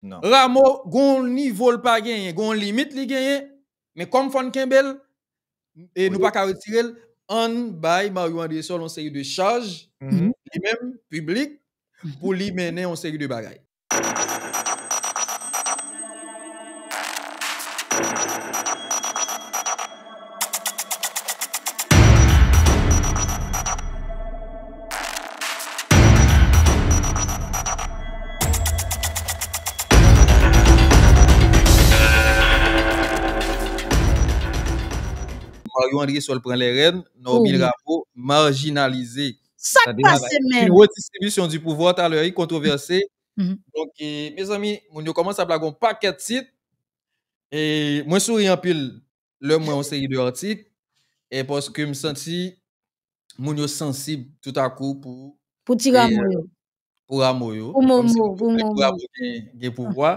nan. Ramo gon w nivo l pa genyen, gon w limit li genyen, men kòm fò n kenbe l, e nou pa ka retire l, an n bay Mario Andresol yon seri de chaj, li menm, piblik, pou li mennen yon seri de bagay. Mario Andresol pran lè rèn, Normil Rameau marjinalize. Sak pase menm? Une redistribution du pouvoir talè wi kontwovèse. Donk mezanmi moun yo kòmanse ap lage yon pakèt tit. E mwen souri anpil lè mwen yon seri de artik e paske m santi moun yo sansib tout a kou pou Pou ti ramo yo. Pou ramo yo. Pou momo, pou momo. Pou ramo gen pouvwa.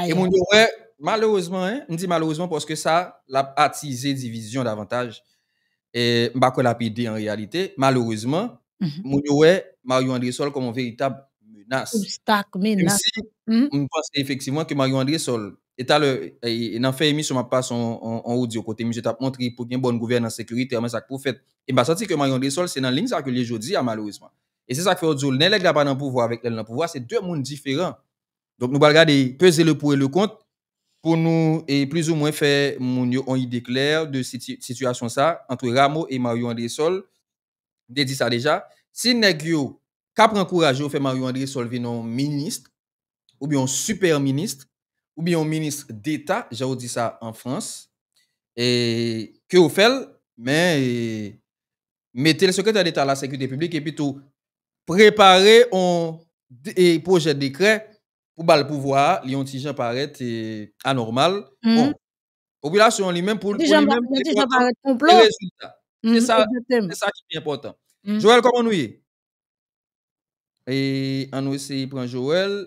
E moun yo wè malerezman, m di malerezman paske sa l ap atize divizyon davantaj. m pa kwè l ap ede an reyalite. Malerezman, moun yo wè Marion Andrésol kòm yon veritab menas. Obstak, menas. Menmsi m panse efektivman ke Marion Andrésol, e talè nan fen emisyon m ap pase yon odyo kote misye t ap montre pou gen bòn gouvènans sekirite men sa k pou fèt. E m pa santi ke Marion Andrésol se nan liy sa ke l ye jodi a malerezman. E se sa k fè yo di w lè nèg la pa nan pouvwa avèk lè l nan pouvwa se de moun diferan. Donk nou pral gade peze le pour et le contre pou nou plis ou mwen fè moun yo on ide klè de sitiyasyon sa antre Rameau e Mario Andresol. M te di sa deja, si nèg yo ka pran kouraj yo fè Mario Andresol vin on ministre oubyen on super ministre oubyen on ministre deta jan yo di sa an Frans ke yo fè l men mete l sekretè deta la sekirite piblik epi tou prepare yon pwojè dekrè pou bal pouvwa a li yon ti jan parèt anòmal bon popilasyon an li menm pou li menm li kontan pou rezilta se sa ki pi enpòtan Joel kòman nou ye? E an nou eseye pran Joel.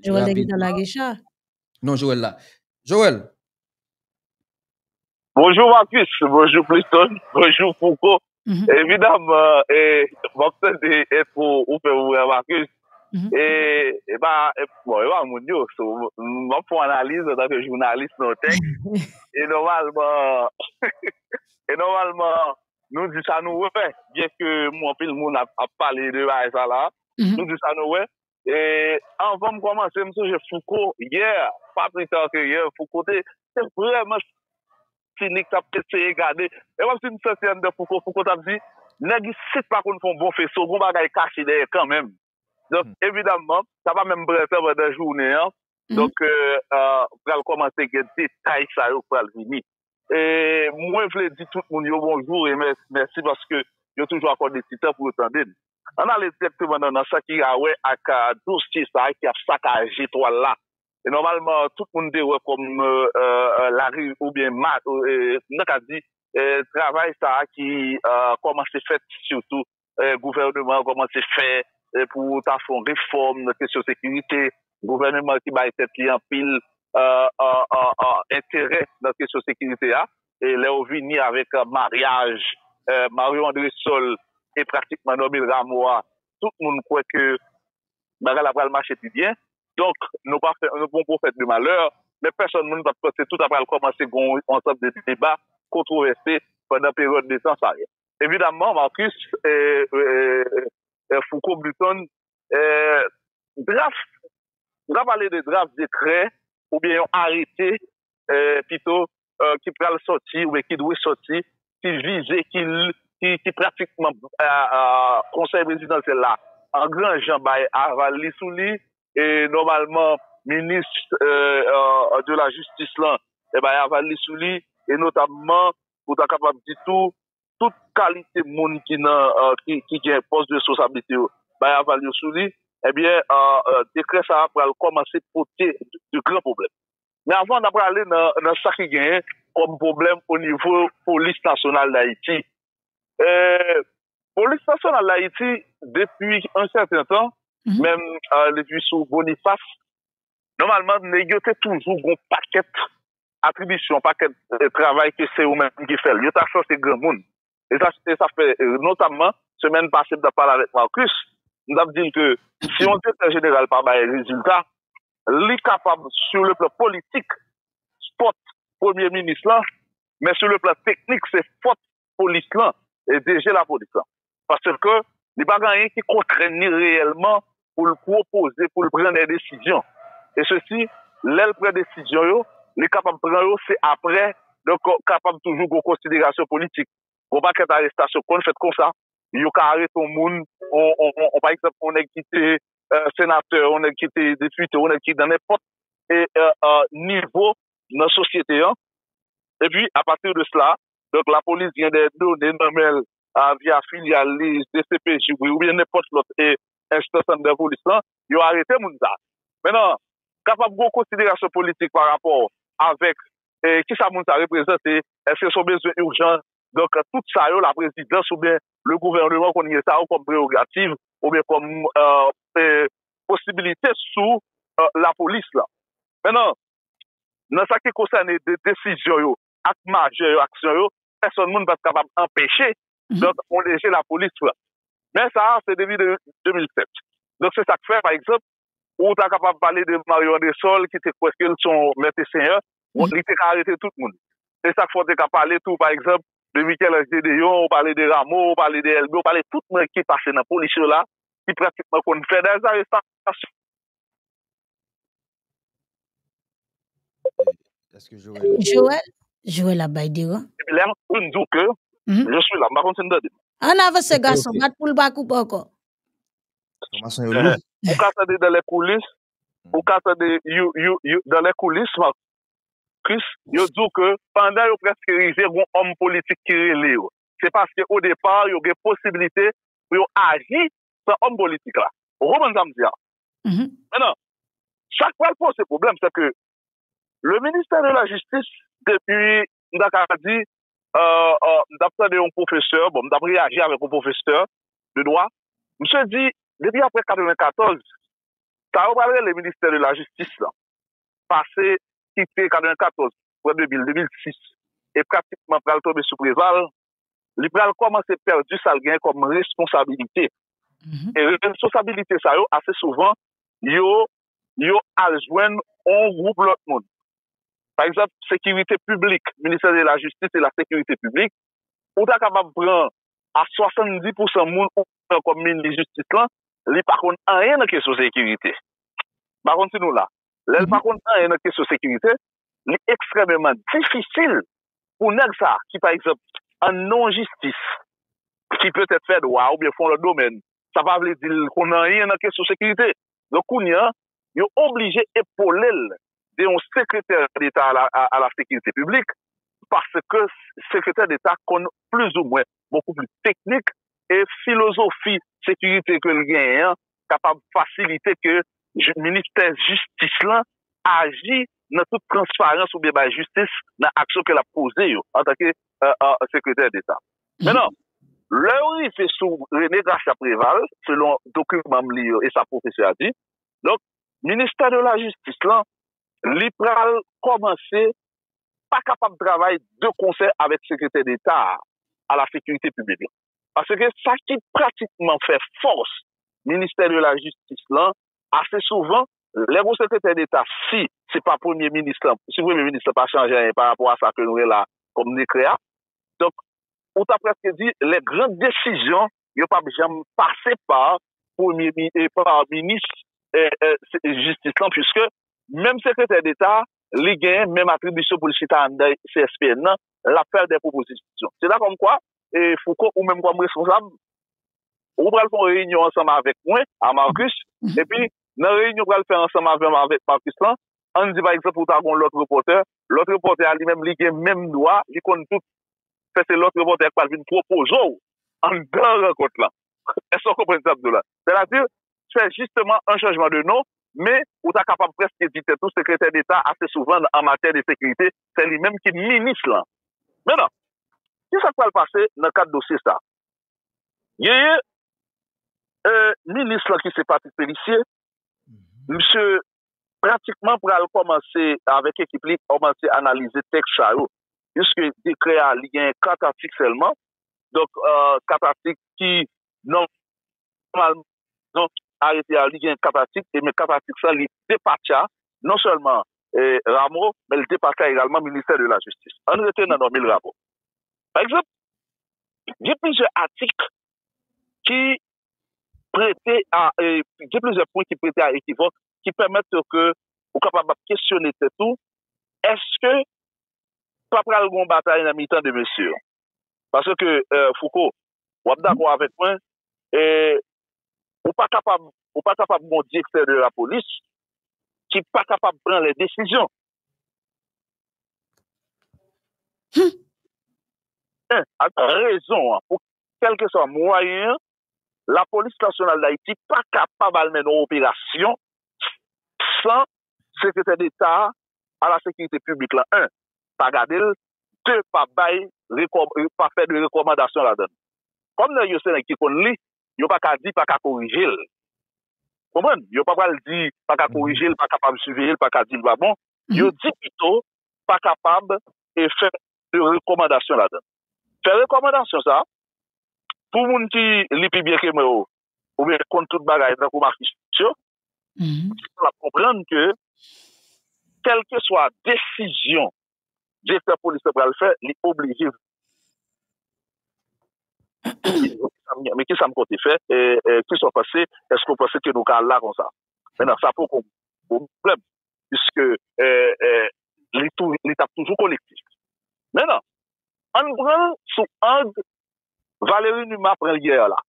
Joel te gentan lage cha. Non Joel la. Joel. Bonjou Marcus, bonjou Pliston, bonjou Fouco. Evidaman, m ap tande entwo ou fè pou mwen an Marcus. E pa, bon, e pa moun yo. So, m ap fè yon analiz antan ke jounalis nan yon tèks. E nòmalman, e nòmalman, nou di sa nou wè, byen ke anpil moun ap pale de bagay sa la, nou di sa nou wè. E anvan m kòmanse, m sonje Fouco yè, pa pli ta ke yè, Fouco te vrèman sinik, t ap eseye gade. E wap si m santi anndan Fouco, Fouco t ap di, nèg isit pa konn fè yon bon feso, gon bagay kache dèyè kanmenm. Donk, evidaman, sa pa menm pran tan pandan jounen an, donk pral kòmanse gen detay sa yo k pral vini. Mwen vle di tout moun yo bonjou e mèsi paske yo toujou akòde ti tan pou yo tande n. Ann ale dirèkteman nan sa ki gen a wè ak dosye sa a ki ap sakaje twal la e nòmalman tout moun te wè kòm lari oubyen nou ta ka di travay sa a ki kòmanse fèt sitou gouvèneman an kòmanse fè pou ta fè yon refòm nan kesyon sekirite, gouvèneman ki bay tèt li anpil enterè nan kesyon sekirite a, lè yo vini avèk maryaj Marion Andrésol e pratikman Normil Rameau a, tout moun kwè ke bagay la pral mache pi byen. Donk, nou pa fè yon bon pwofèt de malè, men pèsòn moun pa t panse tout ta pral kòmanse gen yon ansanm de deba, kontwovèse pandan peryòd de tan sa yo. Evidamman, Marcus Fouco Burton, draf, nou ka pale de draf dekrè oubyen yon arete pito ki pral sòti oubyen ki dwe sòti, ki vize, ki pratikman Konsèy Prezidansyèl la an gran jan bay aval li sou li. E nòmalman Minis de la Jistis lan bay aval li sou li e notamman ou ta kapab di tou, tout kalite moun ki nan, ki gen pòs de responsablite yo, bay aval yo sou li, ebyen, dekrè sa a pral kòmanse pote de gran pwoblèm. Men avan n ap prale nan sa ki genyen kòm pwoblèm onivo Polis Nasyonal Dayiti, Polis Nasyonal Dayiti, depi yon sèten tan, menm depi sou Bonifas, nòmalman nèg yo te toujou gen yon pakèt atribisyon, yon pakèt travay ke se yo menm ki fè l. Yo ta sanse granmoun. E sa fè notamman, semèn pase m t ap pale avèk Marcus, m t ap di l ke si yon direktè jeneral pa bay rezilta, li kapab sou le plan politik fòt premye minis lan, men sou le plan teknik se fòt polis lan, dirije lapolis lan. Paske li pa gen anyen ki kontrenn li reyèlman pou l pwopoze, pou l pran dè desizyon. E sesi, lè l pran desizyon yo, li kapab pran yo se apre, donk kapab toujou gen konsiderasyon politik. Gen yon pakèt arestasyon ki konn fèt konsa, yo ka arete yon moun, yon pa egzanp, yon nèg ki te senatè, yon nèg ki te depite, yon nèg ki nan nenpòt nivo nan sosyete an. Epi, apati de sela, Donk lapolis gen dè done nan men l via filyal li, dcpj oubyen nenpòt lòt enstans anndan polis lan, yo arete moun sa. Mennan, kapab gon konsiderasyon politik pa rapò avèk kisa moun sa reprezante, èske son bezwen urjan, donk tout sa yo laprezidans oubyen le gouvèneman konn gen sa yo kòm prerogativ oubyen kòm posibilite sou lapolis lan. Mennan, nan sa ki konsène desizyon yo ak majè yo aksyon yo pèsòn moun pat kapab anpeche donk yon DG lapolis pran men sa a se depi 2007 donk se sak fè pa egzanp ou ta kapab pale de Mario Andrésol ki te kwè ke l se yon mèt e senyè li te ka arete tout moun se sak fè w te ka pale tou pa egzanp de Michel-Ange Gédéon ou pale de Rameau ou pale de Elbé ou pale tout moun ki pase nan polis yo la ki pratikman konn fè dèzarestasyon. Joel Joel ap bay deran Lèm fin di w ke Je suis là m pa konn si n tande m Ann avanse gason bat pou l pa koupe ankò Enfòmasyon yo lou Ou ka tande dans les coulisses Ou ka tande you you you dans les coulisses Marcus yo di w ke pandan yo prèske rive gon òm politik ki rele yo se paske o depar yo gen posibilite pou yo aji san òm politik la. Ou konprann sa m di a? Mètnan, sa k pral poze pwoblèm se ke le ministè de la jistis depi m ta ka di m t ap tande yon pwofesè, bon m t ap reyaji avèk yon pwofesè de dwa, misye di depi aprè 94 sa yo pral rele ministè de la jistis la pase kite 94 pran 2000, 2006 e pratikman pral tonbe sou Preval, li pral kòmanse pèdi sa l genyen kòm responsabilite. E responsabilite sa yo, ase souvan, yo yo al jwenn yon gwoup lòt moun. Pa egzanp, sekirite piblik, ministè de la jistis e la sekirite piblik, ou ta kapab pran a 70 pousan moun ou pran kòm minis jistis lan, li pa konn anyen nan kesyon sekirite. M pa konn si nou la. Lè l pa konn anyen nan kesyon sekirite, li ekstrèmeman difisil pou nèg sa a ki, pa egzanp, an non jistis, ki petèt fè dwa oubyen fè yon lòt domèn, sa pa vle di l konn anyen nan kesyon sekirite. Donk, kounye a, yo oblije epole l de yon sekretè deta a la sekirite piblik paske sekretè deta konn plizoumwen bokou plis teknik e filozofi sekirite ke l genyen an kapab fasilite ke ministè jistis lan aji nan tout transparans oubyen bay jistis nan aksyon ke l ap poze yo antanke sekretè deta. Mennan, lè yo rive sou René Gracia Préval, selon dokiman m li yo e sa pwofesè a di, donk ministè de la jistis lan li pral kòmanse pa kapab travay de konsè avèk Sekretè Deta a a la Sekirite Piblik la. Paske sa ki pratikman fè fòs Ministè de la Jistis lan, ase souvan, lè gon Sekretè Deta, si se pa Premye Minis lan, si Premye Minis lan pa chanje anyen pa rapò a sa ke nou gen la kòm dekrè a, donk, ou ta prèske di lè gran desizyon yo pap janm pase pa minis jistis lan puiske menm sekretè deta li gen menm atribisyon pou l chita anndan CSPN nan l ap fè de pwopozisyon. Se la kòmkwa Fouco ou menm kòm responsab ou pral fè yon reyinyon ansanm avèk mwen a Marcus epi nan reyinyon ou pral fè ansanm avè m avèk Marcus lan ann di pa egzanp ou ta gen yon lòt repòtè lòt repòtè a li menm li gen menm dwa li konn tout fè se lòt repòtè ki pral vin pwopoze w anndan rankont la. Èske w konprann sa m di w la? Sètadi, fè jisteman an chanjman de non, men ou ta kapab prèske di tèt ou sekretè deta ase souvan an matyè de sekirite, se li menm ki minis lan. Mennan, ki sa k pral pase nan kad dosye sa a? Genyen minis lan ki se Patrick Pélissier, misye pratikman pral kòmanse avèk ekip li kòmanse analize tèks sa yo piske dekrè a li genyen 4 atik sèlman donk 4 atik ki nòmalman donk arete a li genyen 4 atik e men 4 atik sa li depatcha non sèlman Ramo men li depatcha egalman ministè de la jistis ann rete nan nome Ramo pa egzanp gen plizyè atik ki prete a, gen plizyè pwen ki prete a ekivòk, ki pèmèt yo ke ou kapab ap kesyone tèt ou, èske pa pral gen yon batay nan mitan 2 mesye yo? Pase ke Fouco, w ap dakò avèk mwen, ou pa kapab, ou pa kapab gen yon direktè de la polis ki pa kapab pran lè desizyon. Hum! 1, ak rezon an, kèlkeswa mwayen an, Lapolis Nasyonal Dayiti pa kapab al mennen yon operasyon san Sekretè Deta a la Sekirite Piblik la 1. Pa gade l 2. Pa bay pa fè de rekòmandasyon ladan l. Kòm nèg yo se nèg ki konn li, yo pa ka di pa ka korije l. Ou konprann? Yo pa pral di pa ka korije l, pa kapab siveye l, pa ka di l pa bon. Yo di pito pa kapab fè de rekòmandasyon ladan. Fè rekòmandasyon sa a, pou moun ki li pi byen ke mwen yo, oubyen ki konn tout bagay tankou Marcus yo, l ap konprann ke kèlkeswa desizyon Direktè Polis la pral fè, li oblije. Men ki sa m konte fè? Kisa w panse? Èske w panse ke nou ka al la konsa? Sa poko pwoblèm. piske li t ap toujou kolektif. Men nan, an n pran l sou ang Valéry Numa pran l yè la.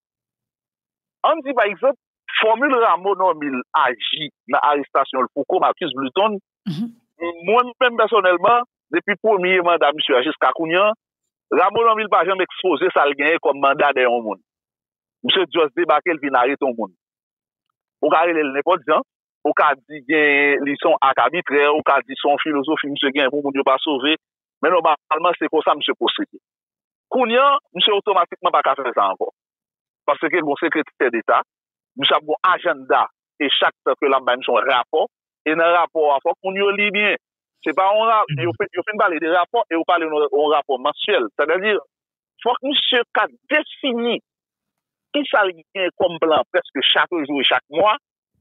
An n di pa egzanp, fòmil Rameau Normil aji nan arestasyon l pou kou Marcus Bluton, mwen menm pèsonèlman, depi premye manda misye a jiska kounye an, Rameau Normil pa janm ekspoze sa l genyen kòm manda dèyè yon moun. Misye just debake l vin arete yon moun. Ou ka rele l nenpòt jan, ou ka di genyen li se yon ak abitrè, ou ka di se yon filozofi misye genyen pou moun yo pa sove, men nòmalman se konsa misye pwosede. Kounye an, misye otomatikman pa ka fè sa ankò. Paske gen yon sekretè deta, misye ap gen yon ajannda e chak tan ke l ap bay misye yon rapò, e nan rapò a fòk moun yo li byen. Se pa yon ra, yo fin pale de rapò e yo pale yon rapò mansyèl. Sètadi, fòk misye ka defini kisa li genyen kòm plan prèske chak jou e chak mwa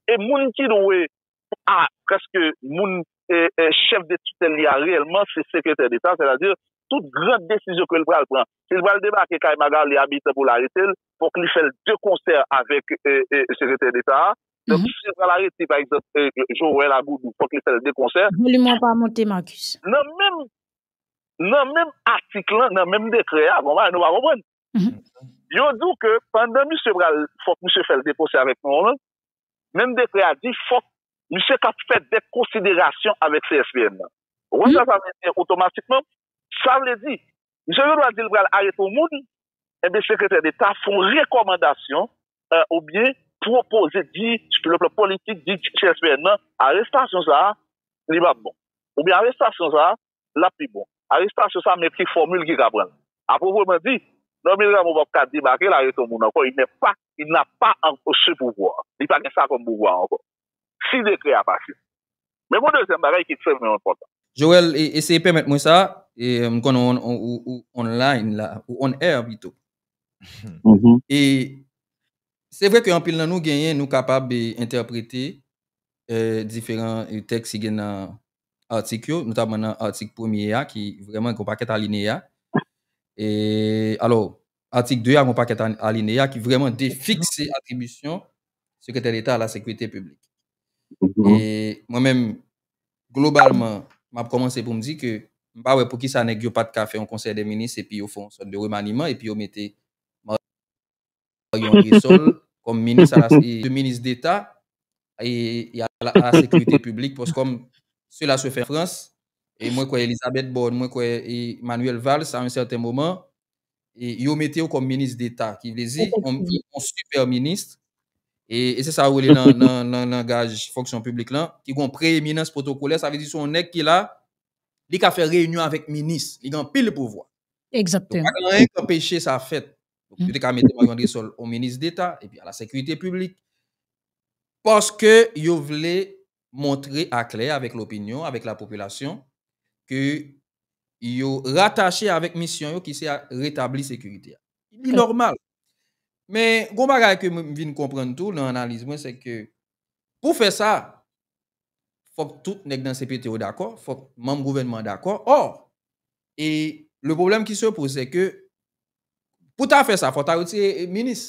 e moun ki dwe a prèske moun chèf de titèl li a reyèlman se sekretè deta, sètadi tout gran desizyon ke li pral pran. Si li pral debake kay Magalie Habitant pou l arete l, fòk li fè l de konsè avèk sekretè deta a. Donk si li pral arete pa egzanp Joel Agoudou, fòk li fè l de konsè. Volim ou an pa monte Marcus. Nan menm atik lan, nan menm dekrè a, gon bagay nou pa konprann. Yo di w ke pandan misye pral fòk misye fè l depose avèk non l, menm dekrè a di fòk misye ka fè dèt konsiderasyon avèk CSPN nan. Ou konn sa sa vle di otomatikman? Sa vle di, misye gendwa di l pral arete yon moun, enben Sekretè Deta fè yon rekòmandasyon oubyen pwopoze, di sou le plan politik, di CSPN nan arestasyon sa a li pa bon. Oubyen arestasyon sa a l ap pi bon. Arestasyon sa met ki fòmil ki ka pran l? A pwoprman di, Normil Rameau p ap ka debake la rete yon moun ankò, il n'est pas, il n'a pas encore ce pouvoir. Li pa gen sa kòm pouvwa ankò. Si dekrè a pase. Men gon dezyèm bagay ki ekstrèmman enpòtan. Joel, eseye pèmèt mwen sa, m konnen ou on line la, ou on air pito. E, se vre ke anpil nan nou genyen, nou kapab entèprete diferan tèks ki gen nan atik yo, notamman nan atik premye a ki vrèman gen yon pakèt alineya. E alò, atik 2 a gen yon pakèt alineya ki vrèman defikse atribisyon Sekretè Deta a la Sekurite Piblik. E mwen menm, globalman, m ap kòmanse pou m di ke m pa wè poukisa nèg yo pa t ka fè yon konsèy dè minis epi yo fè yon sòt de remaniman epi yo mete ak yon esol kòm minis a la e minis deta e a la sekirite piblik pòs kòm sela se fè an Frans e mwen kwè Elisabeth Borne mwen kwè e Manuel Valls a yon sèten moman e yo mete yo kòm minis deta ki vle di yon sipè minis e e se sa yo rele nan nan nan langaj fonksyon piblik lan ki gon preeminans pwotokolè sa vle di se yon nèg ki la li ka fè reyinyon avèk minis li gen anpil pouvwa. Egzakteman. Donk pa gen anyen ki anpeche sa fèt. Yo te ka mete Mario Andresol on minis deta epi a la sekirite piblik. Paske yo vle montre a klè avèk lopinyon, avèk lapopilasyon ke yo ratache avèk misyon yo ki se a retabli sekirite a. Li nòmal. Men gon bagay ke mwen vin konprann tou nan analiz mwen se ke pou fè sa, fòk tout nèg nan cpt yo dakò, fòk manm gouvènman an dakò. Ò, e le pwoblèm ki se poze se ke Pou ta fè sa, fò ta retire minis.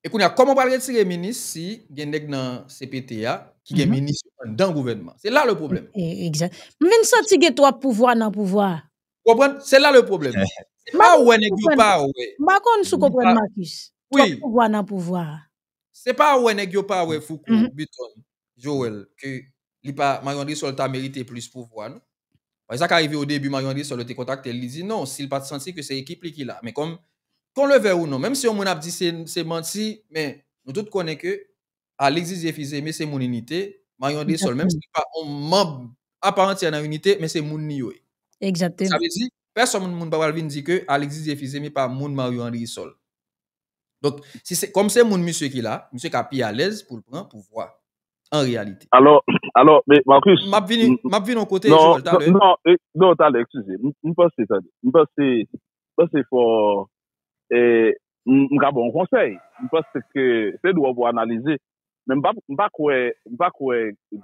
E kounye a, kòman ou pral retire minis si gen nèg nan CPT a ki gen minis anndan gouvènman? Se la le pwoblèm. M vin santi gen twòp pouvwa nan pouvwa a. Ou konprann? Se la le pwoblèm. Se pa wè nèg yo pa wè. M pa konn si w konprann Marcus. Twòp pouvwa nan pouvwa a. Se pa wè nèg yo pa wè Fouco Beton Joel ke li pa Marion Andrésol ta merite plis pouvwa non. Paske sa ka rive odebi Marion Andrésol yo te kontakte l li di non si l pa t santi ke se ekip li ki la. Men kòm kon le vè ou non menm si yon moun ap di se manti men nou tout konnen ke Alix Didier Fils Aimé se moun inite Marion Andrésol menm si l pa yon manb a part entière nan inite men se moun li yo ye. Sa vle di pèsonn moun pa pral vin di ke Alix Didier Fils Aimé pa moun Marion Andrésol. Donk, si se, kòm se moun misye ki la, misye ka pi alèz pou l pran pouvwa a, an reyalite. Alò, alò, men Marcus. M ap vini, m ap vini yon kote, Joel, talè. Non, non, non, talè, eskize. M panse, tande, m panse, m panse fò, e, m ka ba w yon konsèy. M panse ke se dwe pou w analize. Men m pa, m pa kwè, m pa kwè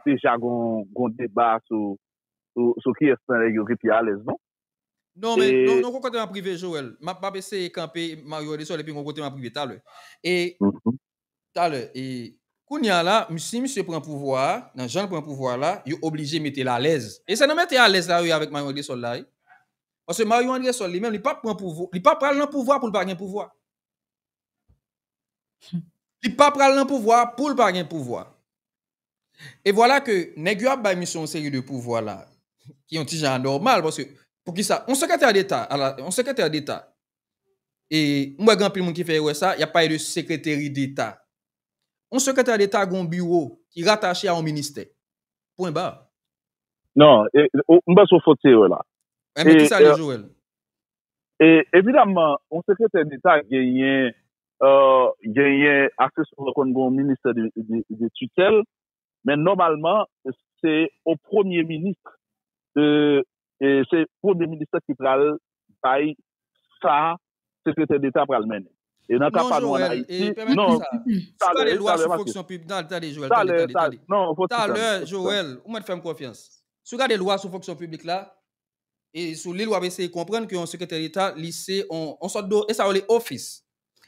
deja gon, gon deba sou, sou kiyès nan nèg yo ki pi alèz non. Non men, non, non kote map rive Joel. Map map eseye kanpe Mario Edesol epi mwen kote map rive talè. E talè, e kounya la, si misye pran pouvwa a, nan jan l pran pouvwa la, yo oblije mete l alèz. E se nan mete alèz la yo ye avèk Mario Edesol la wi. Paske Mario Edesol li menm li pap pran pouvwa, li pa pral nan pouvwa pou l pa gen pouvwa. Li pa pral nan pouvwa pou l pa gen pouvwa. E vwala ke nèg yo ap bay misye yon seri de pouvwa la ki yon ti jan anòmal paske poukisa yon sekretè deta ala yon sekretè deta e m wè gen anpil moun ki fè erè sa y ap pale de sekreteri deta yon sekretè deta gen yon biwo ki ratache a yon ministè pwen ba. Non e m panse w fot se erè la. E men kisa l ye Joel? E evidamman yon sekretè deta genyen genyen aksesman yo konn gen yon ministè de titèl men nòmalman se yon premye minis se premye minis la ki pral bay sa sekretè deta pral mennen e nan ka pa nou an ayiti non talè talè talè talè e sou li l wap eseye konprann ke yon sekretè deta li se yon sòt de, e sa yo rele ofis.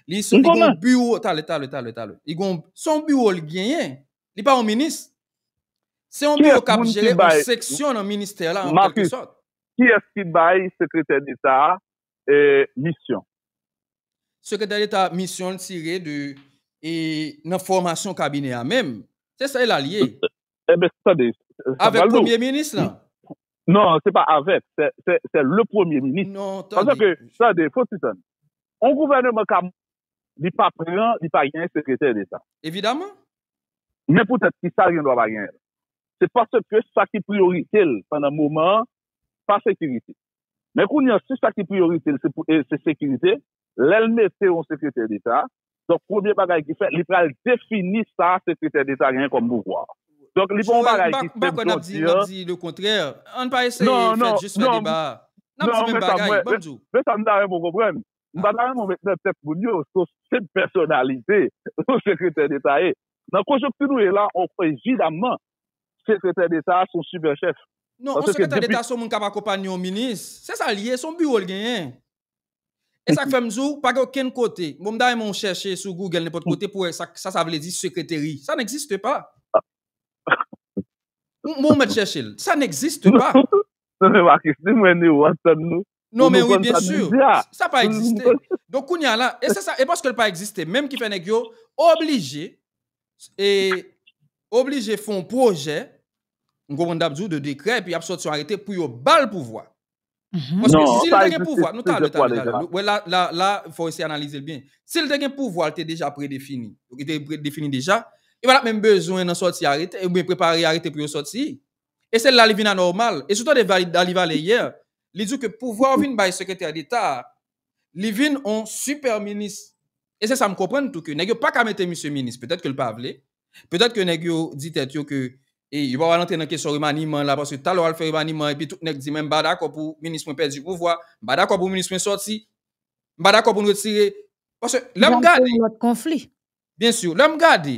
Li se yon biwo, tale, tale, tale, tale. Li gon, se yon biwo li genyen, li pa yon minis. Se yon biwo kap jere yon seksyon nan ministè la an kèlke sòt. Kiyès ki bay sekretè deta a misyon. Sekretè Deta misyon l tire de e nan fòmasyon kabinè a menm. Se sa e la l ye. Enben, tande, sa pral lou. Avèk premye minis lan. Non, se pa avèk, se le premye minis. Non, tande. Paske ke, tande, fò ti tann. On gouvèneman ka moun, li pa pran, li pa gen sekretè Deta. Evidaman. Men poutèt ki sa l gen dwa pa gen l? Se paske sa ki priyorite l pandan moman an pa sekirite. Men kounye an, si sa ki priyorite l se sekirite, lè l mete yon sekretè deta, donk premye bagay ki fèt, li pral defini sa sekretè deta genyen kòm pouvwa. Donk li pa yon bagay ki senp, jan w di an. Joel, m pa kwè n ap di lekontrè. Ann pa eseye fè jis fè deba a. N ap di menm bagay. Ban m di w. Men sa m ta renmen w konprann, m pa ta renmen w met nan tèt moun yo se yon senp pèsonalite yon sekretè deta ye. Nan konjonkti nou ye la, evidamman, sekretè deta a se yon sipè chèf. Non, yon sekretè deta se yon moun k ap akonpanye yon minis. Se sa l ye, se yon biwo l genyen. E sa k fè m di w, pa gen okenn kote, bon m ta renmen w chèche sou Google nenpòt kote pou w wè sa sa vle di sekreteri. Sa n'existe pas. Bon ou mèt chèche l. Sa n'existe pas. Mwen se Marcus, ni mwen ni ou ap tann nou Non men wi byen sur, sa pa egziste. Donk kounya la, e se sa, e paske l pa egziste menm ki fè nèg yo oblije, e oblije fon pwojè, m konprann ta p di w de dekrè epi y ap sòti yon arete pou yo ba l pouvwa. Paske si l te gen pouvwa, nou tale, tale, tale, wè la, la, la fò w eseye analize l byen. Si l te gen pouvwa l te deja predefini, li te predefini deja, li pa t ap menm bezwen nan sòti arete, oubyen prepare arete pou yo sòti. E se la li vin anòmal. E si w tande Daly Valet yè, li di w ke pouvwa w vin bay sekretè deta a, li vin on sipè minis. E se sa m konprann tou ke nèg yo pa ka mete misye minis, petèt ke l pa vle, petèt ke nèg yo di tèt yo ke e yo pa pral antre nan kesyon remaniman la paske talè w al fè remaniman epi tout nèg di men m pa dakò pou minis mwen pèdi pouvwa, m pa dakò pou minis mwen sòti, m pa dakò pou n retire. Paske lè m gade. Pral kreye lòt konfli. Byensi, lè m gade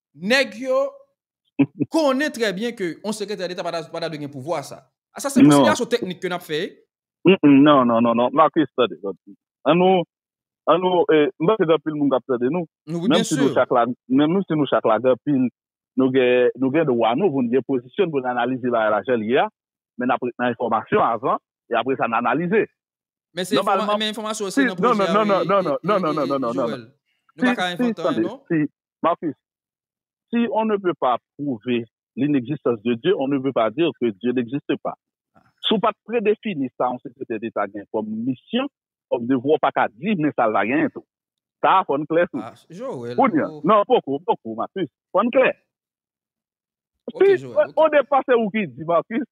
Nèg yo konnen trè byen ke yon sekretè deta pa ta dwe gen pouvwa sa. A sa se konsiderasyon teknik ke n ap fè. Non, non, non, non, Marcus tande, tande. An nou, an nou, m panse gen anpil moun k ap tande nou. Wi, byen si. Menm si nou chak la gen anpil, nou gen, nou gen dwa nou pou n gen pozisyon n pou n analize bagay la jan l ye a. Men n ap ret nan enfòmasyon avan e apre sa n analize. Men se enfòmasyon, men enfòmasyon se nan pwojè a wi, Joel. Nou pa ka envante anyen non. Marcus, Si on ne peut pas prouver l'inexistence de Dieu, on ne peut pas dire que Dieu n'existe pas. Si w pa t predefini sa yon sekretè deta gen kòm misyon, kòm devwa, w pa ka di men sa l va genyen tou. Sa a fò n klè sou li. Kounye a, non, poko, poko, Marcus. Fò n klè. Si, odepa se ou ki di, Marcus,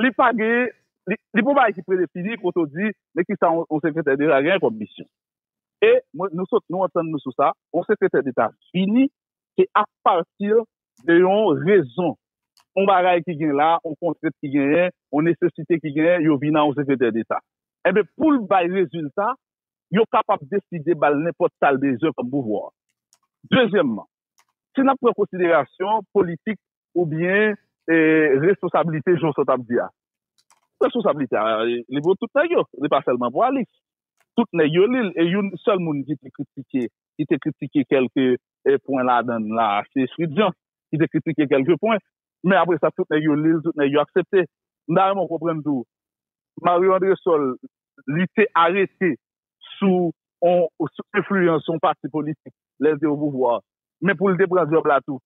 li pa gen, li pa yon bagay ki predefini kote ou di men ki sa yon sekretè deta gen kòm misyon. E mwen, nou sot, nou antann nou sou sa, yon sekretè deta vini se a pati de yon rezon, yon bagay ki gen la, yon kontrent ki genyen, yon nesesite ki genyen, yo vini nan yon sekretè deta. Enben, pou l bay rezilta, yo kapab deside ba l nenpòt sa l bezwen kòm pouvwa. Dezyèmman, si n ap pran an konsiderasyon politik ou byen responsablite jan w sot ap di a. Responsablite a li pou tout nèg yo, li pa sèlman pou Alix. Tout nèg yo li l e youn sèl moun ki te kritike, ki te kritike kèlke pwen ladan l la se Fritjan ki te kritike kèlke pwen. Men apre sa tout nèg yo li l, tout nèg yo aksepte. M ta renmen w konprann tou Mario Andresol li te arete sou on enfliyans on pati politik lè l te opouvwa men pou l te pran djòb la tou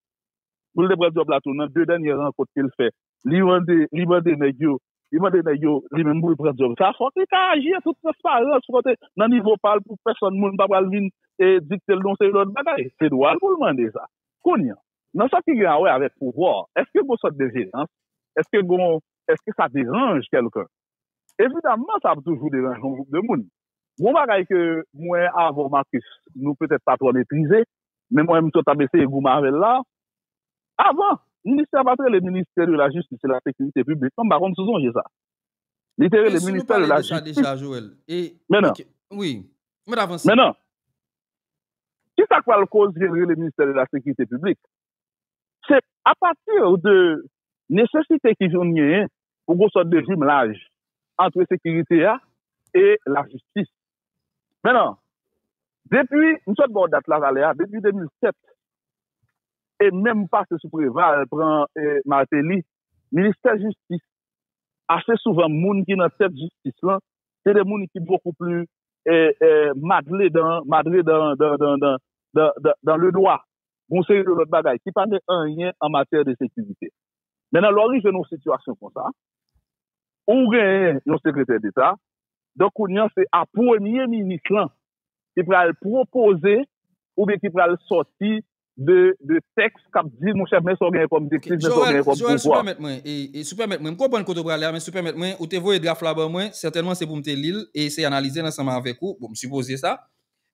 pou l te pran djòb la tou nan 2 dènyè rankont ke l fè li mande li mande nèg yo li mande nèg yo li menm pou l pran djòb sa fòk li ka aji an tout transparans fòk te nan nivo pa l pou pèsòn moun pa pral vin e dikte l nan yon seri lòt bagay se dwa l pou l mande sa kounye an nan sa ki gen a wè avèk pouvwa èske gon sòt de jenans èske gon èske sa deranj kèlken evidamman sa ap toujou deranj yon gwoup de moun Yon bagay ke mwen avè w Marcus nou petèt pa twò metrize, men mwen menm tou t ap eseye goumen avè l la, avan ministè a pa t rele ministè de la jistis e la sekirite piblik non, m pa konn si w sonje sa. Li te rele ministè de la jistis. Men nan. Wi. Mèt avanse. Men nan. Kisa k pral koze l rele ministè de la sekirite piblik? se apati de nesesite ki vin genyen pou gen yon sòt de jimlaj antre sekirite a e lajistis. Men nan, depi, m sot ba w dat Lavalè a, depi 2007, e menm pase sou Preval, pran Martelly, ministè jistis, ase souvan moun ki nan tèt jistis lan, se de moun ki bokou pli madre dan, madre dan, dan, dan, dan, dan, dan, dan, dan le dwa. yon seri de lòt bagay ki pa gen anyen an matyè de sekirite. Men nan lè w rive nan yon sitiyasyon konsa, ou genyen yon sekretè deta, donk kounye an se a premye minis lan ki pral pwopoze oubyen ki pral sòti de tèks k ap di monchè men sa w genyen kòm direktiv, men sa w genyen kòm pouvwa. Joel, sou pèmèt mwen, sou pèmèt mwen, m konprann kote w prale a men sou pèmèt mwen, ou te voye draf la ban mwen, sètènman se pou m te li l e eseye analize l ansanm avèk ou, bon m sipoze sa,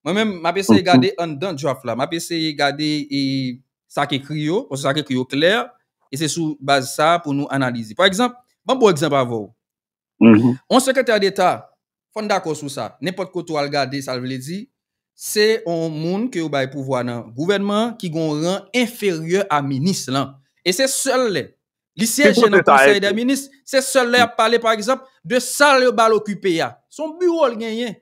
Mwen menm, m ap eseye gade anndan draft la. M ap eseye gade e sa k ekri yo, paske sa k ekri yo klè, e se sou baz sa pou nou analize. Pa egzanp, ban m pran yon egzanp avè w. Yon sekretè deta, fò n dakò sou sa, nenpòt kote w al gade sa l vle di, se yon moun ke yo bay pouvwa nan gouvènman an ki gen yon ran enferyè a minis lan. E se sèl lè li syeje nan konsèy dè minis, se sèl lè y ap pale pa egzanp de sal yo ba l okipe a. Se yon biwo l genyen.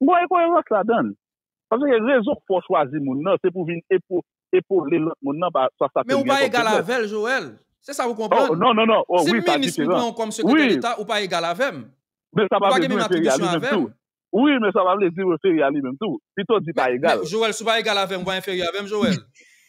M pa wè enkoyerans ladan l. Paske rezon fè w chwazi moun nan se pou w vin epole lòt moun nan pa sa sa ke li gen kòm feblès. Men ou pa egal avè l Joel. Se sa ou konprann? Non, non, non. Si m minis m pran ou kòm sekretè deta ou pa egal avè m. Men sa pa vle di ou enferyè a li menm tou. Wi men sa pa vle di ou enferyè a li menm tou. Pito di pa egal. Men Joel si ou pa egal avè m ou pa enferyè avè m Joel?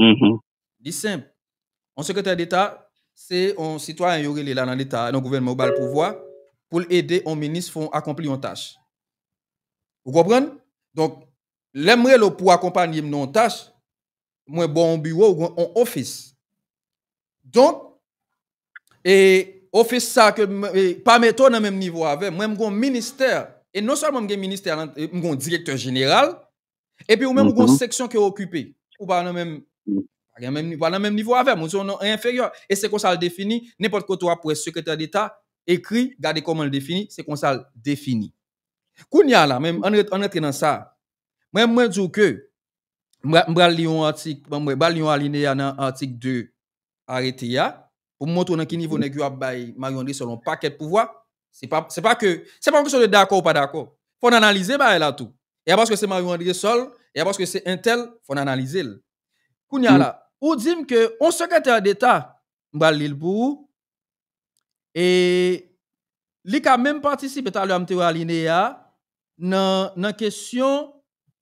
Uhmm. Li senp. On sekretè deta, se on sitwayen yo rele la nan leta a, nan gouvènman yo ba l pouvwa pou l ede on minis fè on akonpli on tach. Ou konprann? Donk, lè m rele w pou akonpanye m nan on tach, mwen ba w on biwo ou byen on ofis. Donk, e ofis sa ke m e pa mete w nan menm nivo avè m. Mwen m gen on ministè e non sèlman m gen ministè a nan, m gen on direktè jeneral Epi ou menm ou gon seksyon ke okipe. Ou pa nan menm, ou pa nan menm nivo avèm, ou se yon non enferyè. E se konsa l defini, nenpòt kote wap wè sekretè deta ekri, gade kòman l defini, se konsa l defini. Kounye a la, men an rantre nan sa, mwen di w ke, m pral li yon atik, m pral li yon alineya nan atik 2 arete a, pou m montre w nan ki nivo nèg yo ap bay Mario Andrésol yon pakèt pouvwa, se pa, se pa ke, se pa yon kesyon de dakò ou pa dakò. Fò n analize bagay la tou. E a paske se Mario Andrésol, e a paske se entèl, fò n analize l. Kounye a la, ou di m ke yon sekretè deta, m pral li l pou ou, e li ka menm patisipe, talè a m te wè alineya a, nan, nan kesyon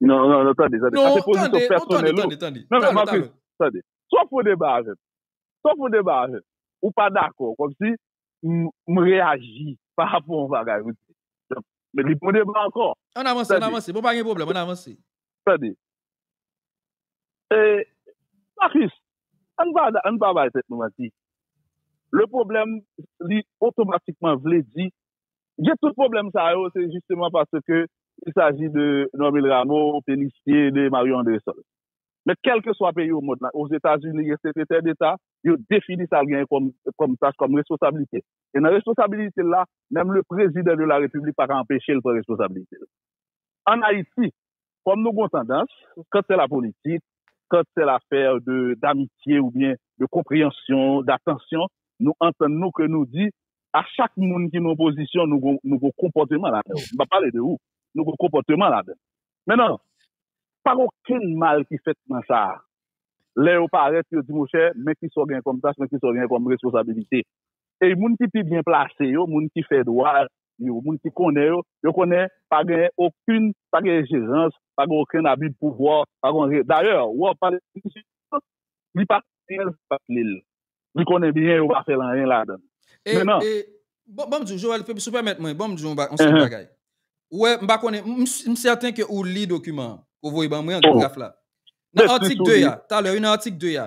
Non, non, non, tande, tande. Sa se pozisyon pèsonèl ou. Non, tande, tande, tande. Non, non, Marcus, tande. Si w ap fè yon deba avè m, si w ap fè yon deba avè m, ou pa dakò, kòm si m reyaji pa rapò a yon bagay ou di. Donk, men li pou deba ankò. An n avanse, an n avanse. Bon, pa gen pwoblèm, an n avanse. Tande. E, Marcus, an n pa, an n pa bay tèt nou manti. Le pwoblèm, li otomatikman vle di Gen tout pwoblèm sa yo, se jisteman paske il saji de Normil Rameau, Pélissier, de Mario Andrésol. Men kèlkeswa peyi o mond la, Ozetazini gen sekretè deta, yo defini sa l genyen kòm tach, kòm responsablite. E nan responsablite l la, menm le prezidan de la repiblik pa ka anpeche l pran responsablite l. An Ayiti, Kòm nou gen yon tandans, quand c'est la politique, quand c'est l'affaire de d'amitié ou byen de konpreyansyon, d'attention, nou antann nou ke nou di a chak moun ki nan opozisyon nou gen yon konpòteman ladan yo. M pa pale de ou. Nou gen yon konpòteman ladan. Mennan, pa gen okenn mal ki fèt nan sa a. Lè yo parèt, yo di, monchè, men ki sa w genyen kòm tach, men ki sa w genyen kòm responsabilite. Ey moun ki pi byen plase yo, moun ki fè dwa yo, moun ki konnen yo, yo konnen pa gen okenn, pa gen enjerans, pa gen okenn abi pouvwa, pa gen anyen. Dayè, ou ap pale de misye an, li pa konnen anyen sa k ap li l. Li konnen byen yo pa fè l anyen ladan l. E, e, bon, bon m di w, Joel, si w pèmèt mwen, bon m di w yon ba, yon seri bagay. Ou wè, m pa konnen, m, m sèten ke ou li dokiman an, ke w voye ban mwen an, graf la. Nan atik 2 a, talè wi, nan atik 2 a,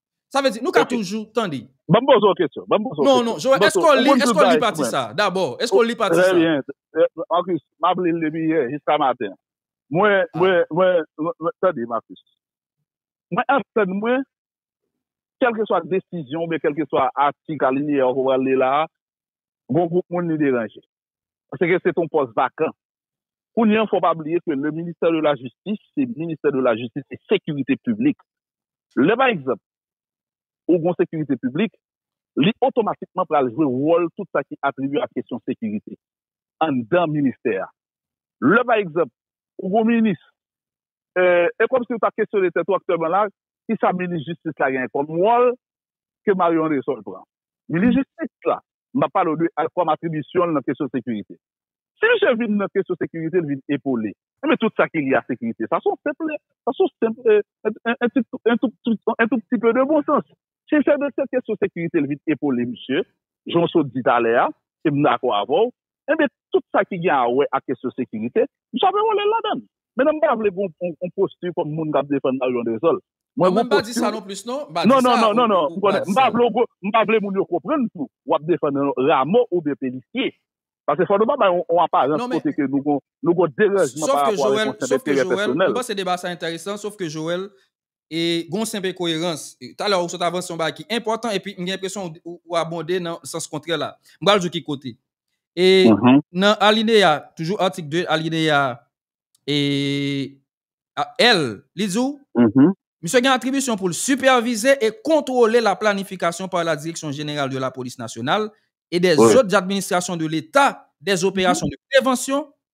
Sa vle di, nou ka toujou, tande. Banm poze w kesyon, banm poze w kesyon. Non, non, Joel, eske w li, eske w li pati sa, dabò, eske w li pati sa? Trè byen, Marcus, m ap li l depi yè, jiska maten. Mwen, mwen, mwen, mwen, tande Marcus. Mwen antann mwen, kèlkeswa desizyon oubyen kèlkeswa atik, alinye a ou pral li la a, gon gwoup moun li deranje. Pase ke se te yon pòs vakan. Kounye an fò w pa bliye ke le ministè de la jistis se ministè de la jistis e sekirite piblik. Lè pa egzanp ou gen yon sekirite piblik, li otomatikman pral jwe wòl tout sa ki atribiye ak kesyon sekirite anndan ministè a. Lè pa egzanp ou gen yon minis, e kòm si ou ta kesyone tèt ou aktyèlman la, kisa minis jistis la genyen kòm wòl ke Marion Resol pran? Minis jistis la M ap pale w de kòm atribisyon l nan kesyon sekirite. Si misye vin nan kesyon sekirite, l vin epole. Enben tout sa ki lye a sekirite, sa son senp, sa son senp un tout petit, un tout petit peu de bon sens. Si l fè nan kesyon sekirite, l vin epole misye, jan w sot di talè a, e m dakò avè w, Enben, tout sa ki gen awè ak kesyon sekirite, m sove wole l ladan l. Mennan m pa vle gen yon posti kòm moun k ap defann Marion Deshol. Mwen gen yon posti w. Non, non, non, non, non, m konnen. M pa vle w, m pa vle moun yo konprann tou w ap defann Ramo oubyen Pelisiye. Paske fò nou pa bay yon aparans kote ke nou gen yon deranjman pa rapò a yon konsèt enterè pèsonèl. Sofke Jowèl, m panse deba sa enteresan, sofke Jowèl, e gen yon senp enkoyerans. Talè ou sot avanse yon bagay ki enpòtan epi m gen enpresyon ou abonde nan sans kontrè la. M pral di w ki kote. E nan alineya, toujou atik 2, alineya L, li di w, Misye gen atribisyon pou l sipèvize e kontwole la planifikasyon pa la Direksyon Jeneral de la Polis Nasyonal e dè zòt administrasyon de Leta dè operasyon de prevansyon,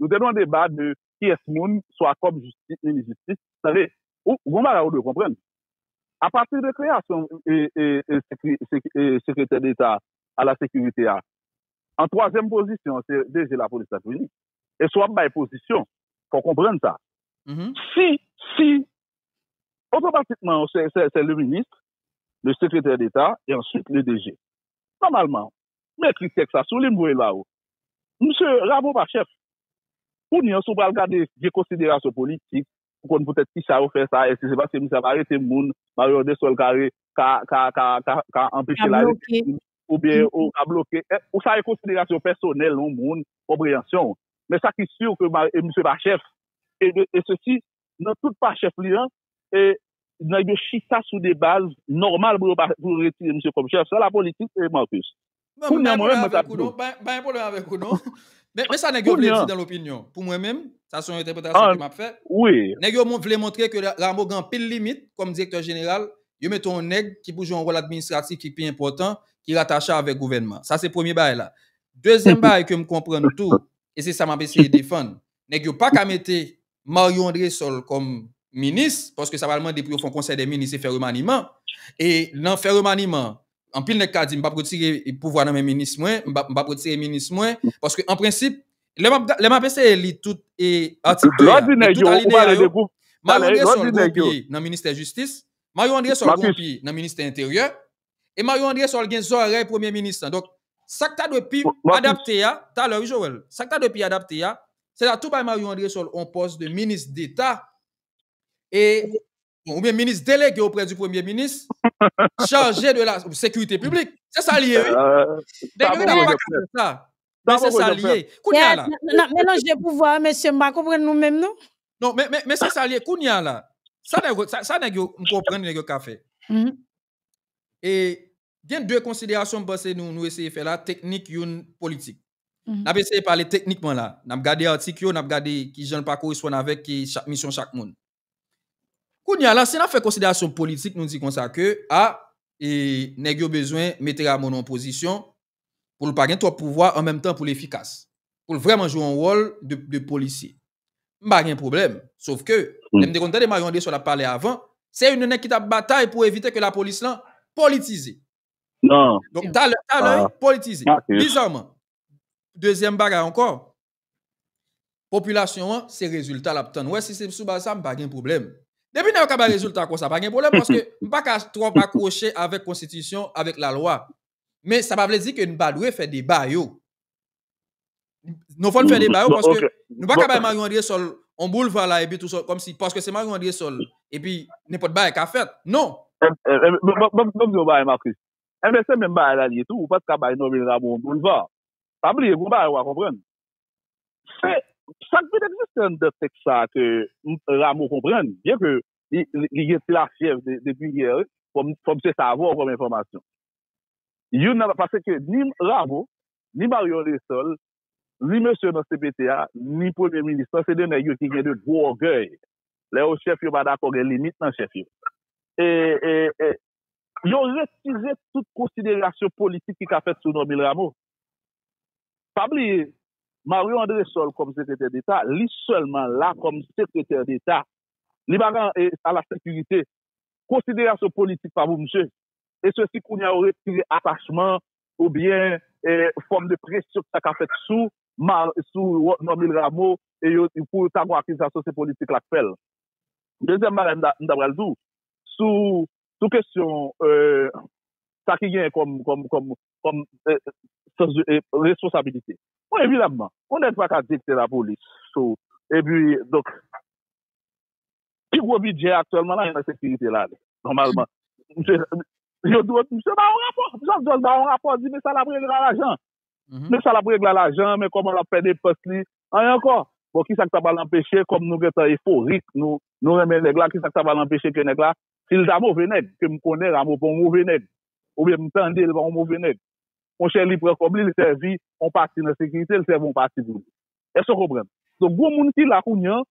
Nou te nan yon deba de kiyès moun swa kòm jistis, minis jistis. Tande, ou gon bagay ou dwe konprann. Apati de kreyasyon sekretè deta a la sekirite a, an twazyèm pozisyon an se DG lapolis la t vini. E si w ap bay pozisyon, fò w konprann sa. Si, si, otomatikman se le minis, le sekretè deta e answit le DG. Nòmalman, M ekri tèks la sou li, m voye l ba ou. Msye Rameau pa chèf. Kounye an, si w pral gade vye konsiderasyon politik, pou konn poutèt kisa yo fè sa, èske se paske misye ap arete moun, Mario Andéusol ka re, ka, ka, ka, ka, ka anpeche la jistis, oubyen ou ka bloke, ou sa e konsiderasyon pèsonèl yon moun, konpreyansyon w. Men sa ki sur ke misye pa chèf, e sesi, nan tout pa chèf li an e nèg yo chita sou de baz nòmal pou yo pa pou yo retire misye kòm chèf sa la politik e Marcus Bon m bay pwoblèm avèk ou non bay bay pwoblèm avèk ou non men men sa nèg yo vle di nan lopinyon pou mwen menm sa son entèpretasyon ke map fè nèg yo vle montre ke Rameau gen anpil limit kòm direktè jeneral yo mete yon nèg ki pou jwe yon wòl administratif ki pi enpòtan ki ratache avèk gouvènman sa se premye bagay la dezyèm bagay ke m konprann tou e se sa map eseye defann nèg yo paka mete Mario Andresol kòm minis, paske sa pral mande pou yo fè yon konsèy dè minis e fè remaniman, e nan fè remaniman, anpil nèg ka di m pap retire pouvwa nan men minis mwen, m pap retire minis mwen, paske an prensip, lè m ap eseye li tout atik 2 a, e tout alinea yo, Mario Andresol gen yon pye nan ministè jistis, Mario Andresol gen yon pye nan ministè enteryè, E Marion Andresol gen zòrèy premye minis lan. Donk, sa k ta dwe pi adapte a, talè wi Joel, sa k ta dwe pi adapte a, se ta tou bay Marion Andresol yon pòs de minis deta e, oubyen minis delege oprè di premye minis, chaje de la sekirite piblik. Se sa li ye wi. Nèg yo genlè pa ka fè sa. Men se sa li ye. Kounye a la. N ap melanje pouvwa yo mesye, m pa konprann nou menm non. Non, men se sa li ye. Kounye a la, sa nèg yo, m konprann nèg yo ka fè. e gen 2 konsiderasyon m panse nou eseye fè la, teknik youn politik. N ap eseye pale teknikman la, n ap gade atik yo, n ap gade ki jan l pa koresponn avèk misyon chak moun. Kounye a la, si n ap fè konsiderasyon politik nou di konsa ke a, e nèg yo bezwen mete Rameau nan yon pozisyon pou l pa gen twòp pouvwa an menm tan pou l efikas, pou l vrèman jwe yon wòl de polisye. M pa gen pwoblèm, sof ke, lè m te konn tande Marion Andrésol ap pale avan, se youn nan nèg ki t ap batay pou evite ke lapolis lan politize. Donk, talè, talè, politize. Bizarman, dezyèm bagay ankò, Popilasyon an se rezilta lap tann. Wè si se sou baz sa m pa gen pwoblèm. Depi nèg yo ka bay rezilta konsa pa gen pwoblèm paske m pa ka twòp akwoche avèk konstitisyon, avèk lalwa. Men sa pa vle di ke n pa dwe fè deba yo. Nou fòn fè deba yo paske nou pa ka bay Mario Andresol yon boulva la epi tou kòm si paske se Mario Andresol epi nenpòt bagay ka fèt. Non! Banm di yon bagay Marcus. Enben se menm bagay la l ye tou. Ou pa t ka bay Normil Rameau yon boulva. Pa bliye gen yon bagay ou pa konprann. Se sa k vin egziste anndan tèks sa a ke Rameau konprann, byen ke li gen ti lafyèv de Bruyère wi, fò m se sa avè w kòm enfòmasyon. Youn nan, pase ke ni Rameau, ni Marion Lessol, ni mesye nan cpt a, ni premye minis lan, se de nèg yo ki gen de gwo ògèy. Lè yo chèf yo pa dakò gen limit nan chèf yo. E. Yo retire tout konsiderasyon politik ki ka fèt sou Normil Rameau. Pa bliye, Mario Andresol kòm sekretè deta, li sèlman la kòm sekretè deta. Li pa ka a la sekirite. Konsiderasyon politik pa pou misye. E se si kounye a yo retire atachman ou byen fòm de presyon ki ta ka fèt sou Normil Rameau e yo ta gon akizasyon se politik la k fè l. Dezyèm bagay m ta pral di w, sou kesyon sa ki genyen kòm responsabilite. Bon, evidamman, yon nèg pa ka direktè lapolis tou. E pi, donk, pi gwo bidjè aktyèlman la, nan sekirite la, nòmalman. Misye ba yon rapò, misye ba yon rapò, di men sa l ap regle ak lajan. Men sa l ap regle a lajan, men kòman l ap fè depans li, anyen ankò. Bon, ki sa k ta pral anpeche, kòm nou gen tan eforik, nou renmen nèg la, ki sa k ta pral anpeche ke nèg la, si l ta move nèg, ke m konnen Ramo pa yon move nèg, oubyen m tande l pa yon move nèg, monchè li pran kòb li, li sèvi yon pati nan sekirite, li sèvi yon pati pou li. Èske w konprann? Donk, gen yon moun ki la kounye an,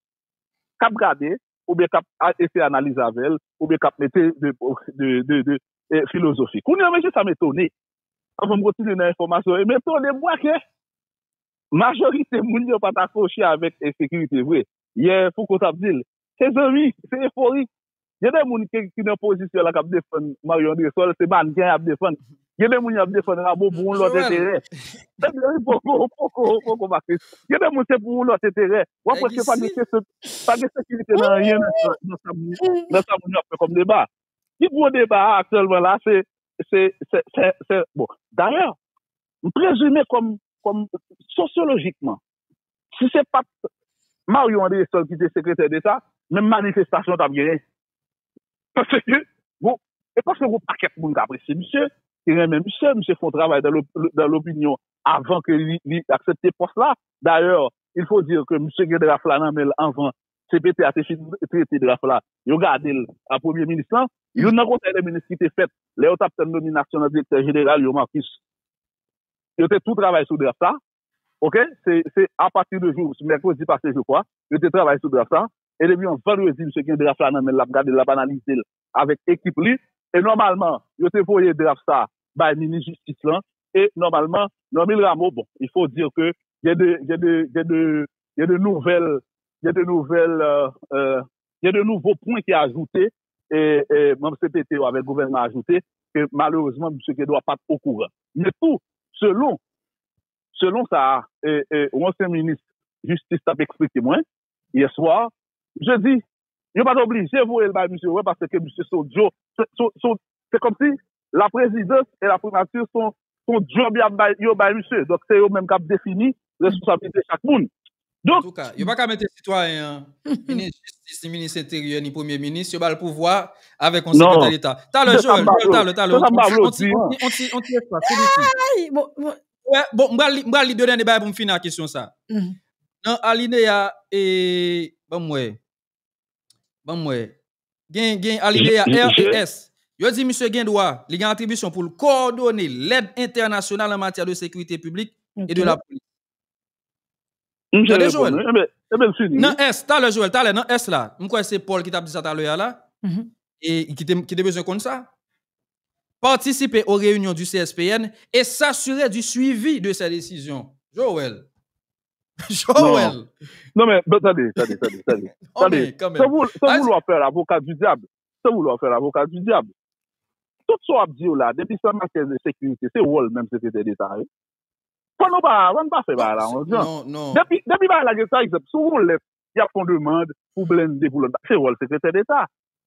k ap gade, oubyen k ap eseye analize avè l, oubyen k ap mete de filozofi. Kounye a, mesye sa m etone, anvan m kontinye nan enfòmasyon yo, m etone m wè ke majorite moun yo pa t akwoche avèk ensekirite vre. Yè Fouco t ap di l, se zanmi, se eforik. Gen de moun ki nan pozisyon la k ap defann Mario Andresol, se mannken y ap defann. Gen de moun y ap defann Ramo pou yon lòt enterè. Ebyen, ou poko make. Gen de moun se pou yon lòt enterè. Ou ap wè se pa gen kesyon, pa gen sekirite nan anyen nan sa moun yo, nan sa moun yo ap fè kòm deba. Pi gwo deba a aktyèlman la se, se, se, bon, dayè, m prezime kòm, kòm sosyolojikman, si se pa t Mario Andrésol ki te sekretè deta, menm manifestasyon t ap genyen. Pase ke, bon, e pase yon pakèt moun k apresye misye, ki renmen misye, misye fè yon travay dan lopinyon avan ke li aksepte pòs la. Dayè, il fo dire ke misye gen draf la nan men l anvan cpt a te fin trete draf la, yo gade l a premye minis lan. Youn nan konsèy de minis ki te fèt lè yo t ap tann nominasyon nan direktè jeneral yo, Marcus, yo te tou travay sou draf la. Ok se apati de jou mèkredi pase je kwa yo te travay sou draf sa e depi yon vandredi misye gen draf la nan menl lap gadel lap analizel avèk ekip li e nòmalman yo te voye draf sa bay minis jistis lan e nòmalman Normil Rameau bon il faut dire ke gen de gen de gen de gen de nouvèl gen de nouvèl euh. Gen de nouvo pwen ki ajoute, manm cpt yo avèk gouvènman ajoute, ke malerezman misye Kedwa pa t okouran. Men tou, selon, selon sa yon ansyen minis jistis t ap eksplike mwen, yè swa, misye di, yo pa t oblije voye l bay misye wè paske misye se yon djo, se kòmsi la prezidans e la primati son djòb yo bay misye, donk se yo menm k ap defini responsabilite chak moun. Antouka, yo pa ka mete sitwayen an, minis jistis, ni minis enteryè, ni premye minis, yo ba l pouvwa avèk yon sekretè deta. Talè, Joel, talè, talè, on ti, on ti, on ti espas, tout doucement. Bon, m pral li 2 dènye bagay pou m fini ak kesyon sa. Nan alineya, banm wè. Banm wè. Gen gen alineya R et S. Yo di misye gen dwa, li gen atribisyon pou l kowòdone lèd entènasyonal an matyè de sekirite piblik e de la polis. Misye Tande reponn Joel. wi. Enben, enben l fini wi. Nan S, talè Joel, talè nan S la, m kwè se Paul ki t ap di sa talè a la, e ki te ki te bezwen konn sa. Participer aux réunions du CSPN et s'assurer du suivi de ses décisions. Joel. Joel! Non men, non tande, tande, tande, tande, tande, san voulwa fè lavoka di dyab, san voulwa fè lavoka di dyab, tout sa w ap di yo la, depi san matyè de sekirite, se wòl menm sekretè deta a ye. Fò nou pa, fò nou pa fè bagay la an jan. Depi, depi bagay la gen, pa egzanp, sou yon lèt, y ap fon demand pou blende, pou lòt bagay, se wòl sekretè deta.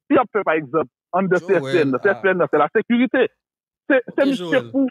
Si y ap fè pa egzanp, anndan CSPN nan, CSPN nan se la sekirite. Se misye pou,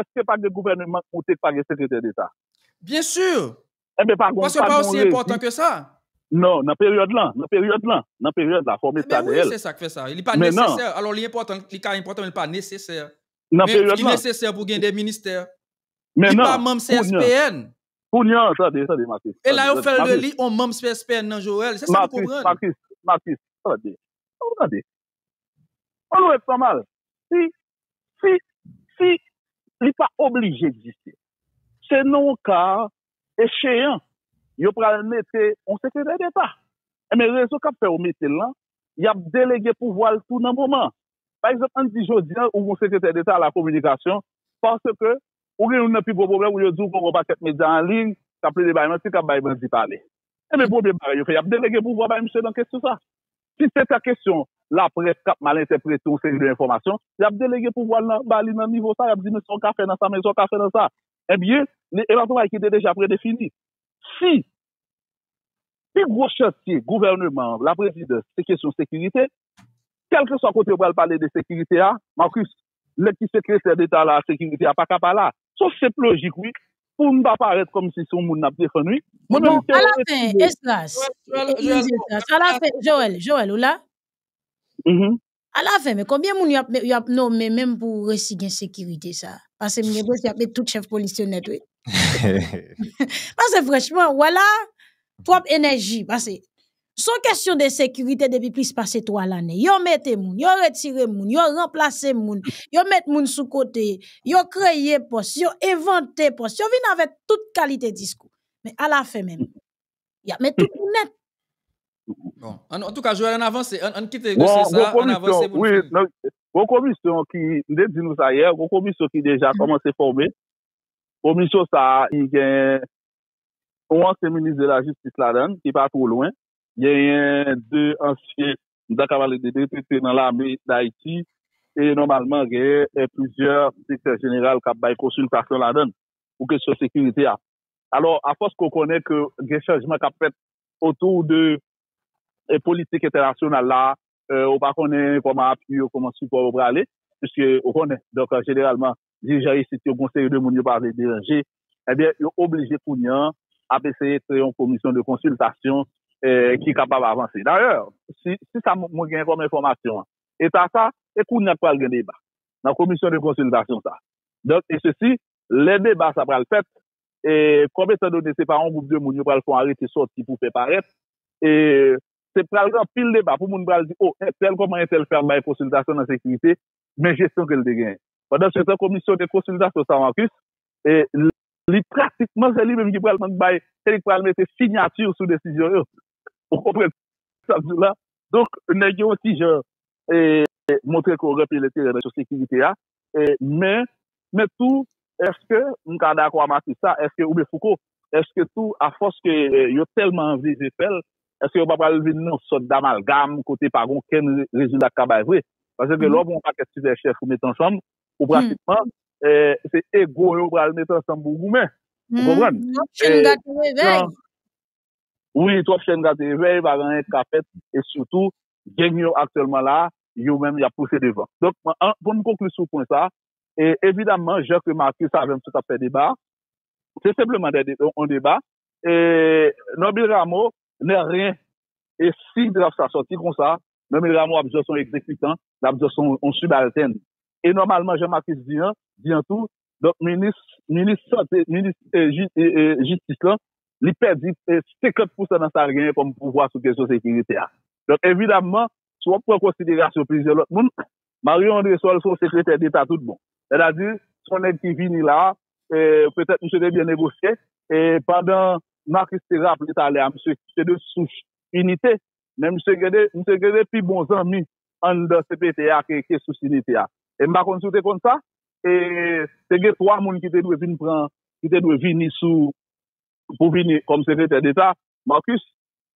Eske pa gen gouvèneman k moute k pa gen sekretè deta? Byen sur! Enben pa gon, pa gon rezi. Non, nan peryòd lan, nan peryòd lan, nan peryòd la, fò w met sa dèyè l. Enben wi, se sa k fè sa. Li pa nesesè. Alò li enpòtan, li ka enpòtan men li pa nesesè. Nan peryòd lan. Men li nesesè pou gen de ministè. Men nan. Li pa manm CSPN. Kounye an, tande, tande Marcus. E la yo fè l de li on manm CSPN nan Joel. Se sa m konprann. Marcus, Marcus, Marcus, tande. Tande. An nou ret san mal. Si, si, si li pa oblije egziste. Se nan yon ka echeyan yo pral mete yon sekretè deta. Enben rezon k ap fè yo mete l lan, y ap delege pouvwa l tou nan moman an. Pa egzanp, an n di jodi an ou gen yon sekretè deta a la kominikasyon paske ou gen youn nan pi gwo pwoblèm ou yo di w gen yon pakèt medya an liy k ap plede bay manti, k ap bay bandi pale. Enben premye bagay yo fè y ap delege pouvwa bay misye nan kesyon sa. Si se ta kesyon laprès k ap mal entèprete yon seri de enfòmasyon, y ap delege pouvwa l nan ba li nan nivo sa, y ap di men sa w ka fè nan sa, men sa w ka fè nan sa. Enben, li e ap yon bagay ki te deja predefini. Si pi gwo chantye gouvèneman an, laprezidans, se kesyon sekirite, kèlkeswa kote yo pral pale de sekirite a, Marcus, Nèg ki sekretè deta a la sekirite a paka pa la. Son senp lojik wi. Pou nou pa parèt kòmsi se yon moun nap defann wi. Mwen menm m te esime. Esdras, alafen, Joel, Joel ou la? Alafen men konbyen moun yap nome menm pou resi gen sekirite sa? Pase m gen pwens yap met tout chèf polis yo nèt wi. Pase franchman wè la? Twòp enèji pase. Son kesyon de sekirite depi plis pase 3 lane. Yo mete moun, yo retire moun, yo ranplase moun, yo met moun sou kote, yo kreye pòs, yo envante pòs, yo vin avèk tout kalite diskou. Men alafen menm, y ap met tout moun nèt. Bon, an tou ka Joel an avanse, an kite dosye sa, an avanse pou n fini. Bon, gwo komisyon ki, m te di nou sa yè, gwo komisyon ki deja kòmanse fòme. Komisyon sa a, li gen Yon ansyen minis de lajistis ladan l, ki pa two lwen. Genyen de ansyen, m ta ka pale de de ki te nan lame Dayiti. E nòmalman genyen plizyè direktè jeneral k ap bay konsiltasyon ladan l pou kesyon sekirite a. Alò, afòs ke w konnen ke gen chanjman k ap fèt otou de politik entènasyonal la, ou pa konnen kòman apui yo, kòman sipò yo prale, piske ou konnen. Donk, jeneralman, dirijan isit yo gen yon seri de moun yo pa vle deranje. Ebyen, yo oblije kounye an ap eseye kreye yon komisyon de konsiltasyon ki kapab avanse. Dayè, si sa mwen gen kòm enfòmasyon an e ta sa, se kounye an ki pral gen deba nan komisyon de konsiltasyon sa a. Donk, e sesi, lè deba sa a pral fèt, e kòm etan done se pa yon gwoup de moun yo pral fè yon arete sòti pou fè parèt, e Se pral gen anpil deba pou moun pral di, o, entèl kòman entèl fè al bay konsiltasyon nan sekirite, men jesyon ke l te genyen. Pandansetan komisyon de konsiltasyon sa Marcus, li pratikman se li menm ki pral mank bay, se li ki pral mete sinyati sou desizyon yo. Ou konprann sa m di w la? Donk nèg yo yon ti jan montre ke yo gen anpil enterè nan kesyon sekirite a, Men tou, èske m ka dakò a Matris la? Èske, oubyen Fouco, èske tou afòs ke yo tèlman anveze fè l, èske yo pa pral vin yon sòt damalgam kote pa gen okenn rezilta k ka bay vre? Paske lè w gen yon pakèt sipèchèf ou mete ansanm, ou pratikman, se ego yo ou pral mete ansanm pou w goumen. Ou konprann? Twòp chen gate revèy. Wi, twòp chen gate revèy, pa gen anyen k ka fèt, e sitou, Geng yo aktyèlman la a, yo menm y ap pouse devan. Donk, pou m konkli sou pwen sa a, evidamman, jan ke Marcus avè m sot ap fè deba a, se senpleman dè yon deba. Norbin Ramo nè ryen. E si draf sa sòti konsa, Norbin Ramo ap jès yon egzekitan, l ap jès yon sibaltèn. E nòmalman, jan Marcus di an, di an tou, Donk minis minis sante minis jistis lan li pèdi 50 pousan nan sa l genyen kòm pouvwa sou kesyon sekirite a. Donk evidamman si w ap pran konsiderasyon plizyè lòt moun Marion Andrésol se yon sekretè deta tout bon. Sètadi se yon nèg ki vini la a petèt misye te byen negosye e pandan Marcus te raple talè a misye se de souch inite men misye gen de misye gen de pi bon zanmi anndan cpt a ke ke sous inite a. E m pa konn si w te konn sa? e te gen 3 moun ki te dwe vin pran, ki te dwe vini sou, pou vini kòm sekretè deta, Marcus,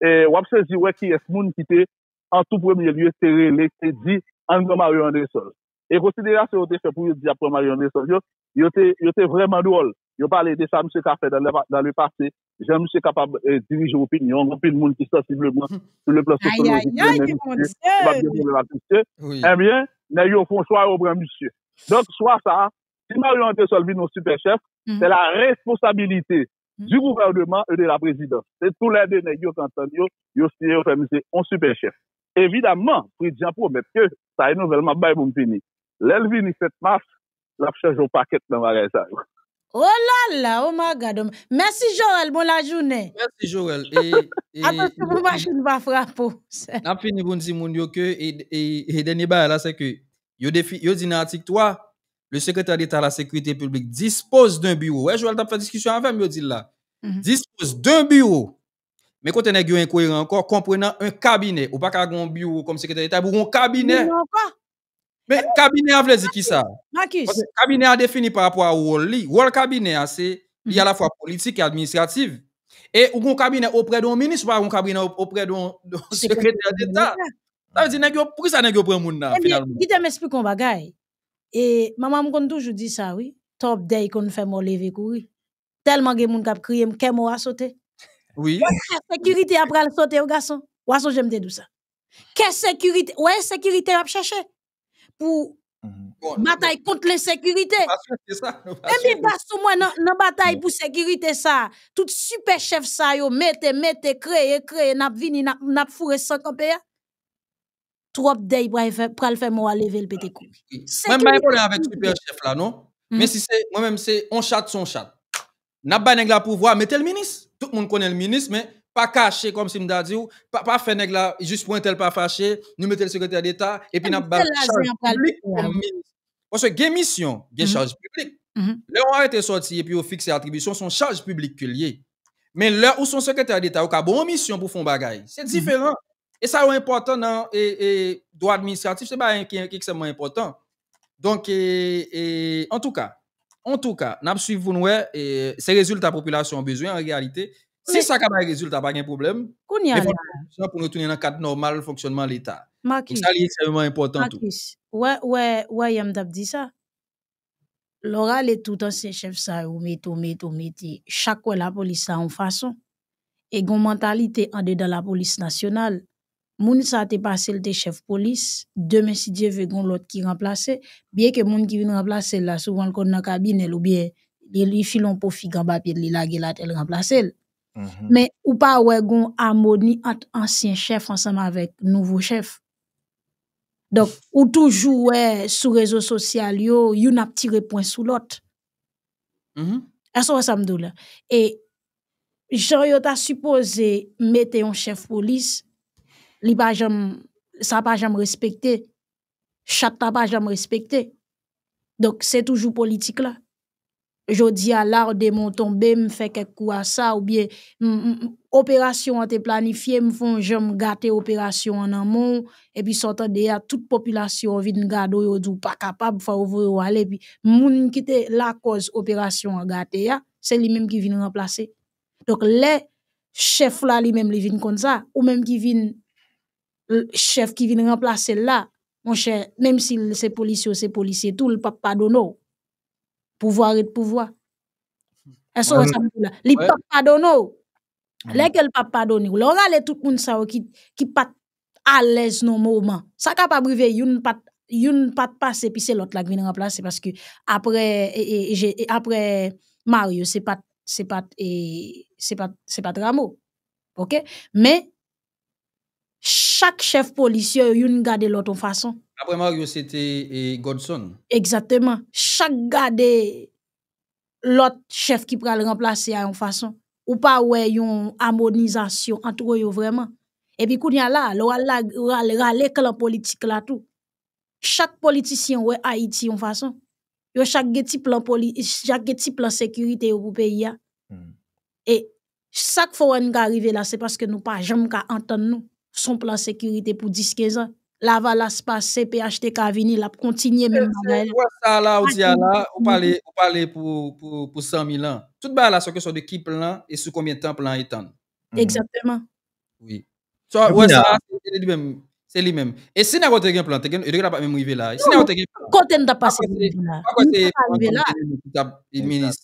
e w ap sezi wè kiyès moun ki te, an tou premye lye, te rele, ki te di, ann pran Mario Andrésol. E konsiderasyon yo te fè pou yo di y ap pran Mario Andrésol yo, yo te, yo te vrèman dwòl. Yo pale de sa misye ka fè dan le pase, jan misye kapab dirije opinyon anpil moun ki sansibleman sou le plan sosyolojik renmen misye, yo pa p gen pwoblèm ak misye. Ebyen, nèg yo fon chwa yo pran misye. Donk, chwa sa a, si Marion Andrésol vin yon sipè chèf, se la responsabilite di gouvèneman e de la prezidans. Se tou lè de nèg yo k antann yo, yo siyen yo fè misye yon sipè chèf. Evidaman, Fritz Jean pwomèt ke, sa e nouvèl m ap bay pou m fini, lè l vini 7 mas, lap chanje yon pakèt nan bagay sa yo. Oh lala oh my God oh my Mèsi Jorel bon lajounen. Mèsi Jorel e e. Atansyon pou machin pa frape w sè. Nap fini pou n di moun yo ke e dènye bagay la sè ke yo defi yo di nan atik 3 le secrétaire d'Etat à la sécurité publique dispose d'un bureau ou wè Jorel tap fè diskisyon avè m yo di l la dispose d'un bureau men kote nèg yo enkoyeran ankò comprenant un cabinet ou pa ka gen yon biwo kòm sekretè deta epi w gen yon kabinè. Men, kabinè a vle di ki sa? Marcus. Kabinè a defini pa rapò a wòl li. Wòl kabinè a se, li alafwa politik e administratif. E ou gen yon kabinè oprè de yon minis, ou pa gen yon kabinè oprè de yon sekretè deta. Sa vle di nèg yo, pou ki sa nèg yo pran moun nan finalman? Ebyen, kite m esplike yon bagay. E, manman m konn toujou di sa wi, Tòp dèy konn fè mò leve kouri. Telman gen moun kap kriye m kè mou a sote. Wi. Kè sekirite a pral sote wi gason. Wa sonje m te di w sa. Kè sekirite, ou wè ensekirite yap chèche pou batay kont lensekirite. Ebyen gason mwen nan batay pou sekirite sa, tout sipè chèf sa yo mete, mete, kreye, kreye nap vini nap foure san kanpe a. Trop dèy pral fè mò a leve l pete kouri. Mwen pa gen pwoblèm avèk super chef la non. Men si se mwen menm se on chat se on chat. Nap bay nèg la pouvwa mete l minis. Tout moun konnen l minis men pa kache kòm si m ta di w pa fè nèg la jis pou entèl pa fache nou mete l sekretè deta epi nap ba l chaj piblik kòm minis. Paske gen misyon gen chaj piblik. Lè on arete sòti epi yo fikse atribisyon son chaj piblik ke l ye. Men lè ou son sekretè deta ou ka ba w on misyon pou w fè on bagay. Se diferan. E sa yo enpòtan nan dwa administratif, se bagay ki ekstrèmman enpòtan. Donk, antouka, antouka, n ap suiv pou nou wè, se rezilta popilasyon an bezwen an reyalite. Si sa ka bay rezilta, pa gen pwoblèm. Kounya la. Jan pou nou tounen nan kad nòmal fonksyònman Leta. Makis. Sa li ekstrèmman enpòtan tou. Makis, ou wè, ou wè yè m t ap di sa? lè w rale tout ansyen chèf sa yo, ou mete, ou mete, ou mete, chak wè lapolis sa yon fason. E gen yon mantalite andedan lapolis nasyonal, moun sa te pase l te chèf polis, demen si Dye ve gen yon lòt ki ranplase, byen ke moun ki vin ranplase l la souvan l konn nan kabinè l oubyen li file yon po fig anba pye l li lage l atè l ranplase l. Men ou pa wè gen yon amoni ant ansyen chèf ansanm avèk nouvo chèf. Donk, ou toujou wè sou rezo sosyal yo, youn ap tire pwen sou lòt. Èske ou wè sa m di w la? E, jan yo ta sipoze mete yon chèf polis, li pa janm, sa pa janm respekte. Chat la pa janm respekte. Donk, se toujou politik la. Jodi a lar de mon tonbe m fè kèk kou a sa ou byen operasyon an te planifye m fon jan m gate operasyon an nan men w epi sa w tande a tout popilasyon an vin gade w yo di w pa kapab fò yo voye w ale epi moun ki te lakòz operasyon an gate a se li menm ki vin ranplase donk lè chèf la li menm li vin konn sa ou menm ki vin chèf ki vin ranplase l la monchè menm si l se polisye w se polisye tou l pap padone w. Pouvwa ret pouvwa. Èske ou wè sa mwen di la? Li pa p padone ou. Lè ke li pa p padone ou, lè ou rale tout moun sa yo ki pa t alèz nan moman, sa kapab rive youn pa t, youn pa t pase epi se lòt la ki vin ranplase paske apre, apre Mario se pa t, se pa t, se pa t, se pa t Rameau. Ok? Men, Chak chèf polis yo, yo youn gade lòt yon fason. Apre Mario se te Godson. Egzateman. Chak gade lòt chèf ki pral ranplase a yon fason. Ou pa wè yon amonizasyon antre yo vrèman. Epi kounye a la, lè w al rale klan politik la tou. Chak politisyen wè Ayiti yon fason. Yo chak gen ti plan sekirite yo pou peyi a. E Sak fè w wè nou ka rive la se paske nou pa janm ka antann nou. Son plan sekirite pou 10, 15 an. Lavalas pase, phtk vini, l ap kontinye menm bagay la. Wè sa la ou di a la, ou pale, ou pale pou 100 mil an. Tout bagay la se kesyon de ki plan e sou konbyen tan plan an etann. Egzakteman. Oui. So, wè sa, se li menm. E si nèg yo te gen plan, yo te ka pa menm rive la. Si nèg yo te gen plan. Kote nou ta pase pou rive la? Mwen kwè se Antonio Guérini ki tap minis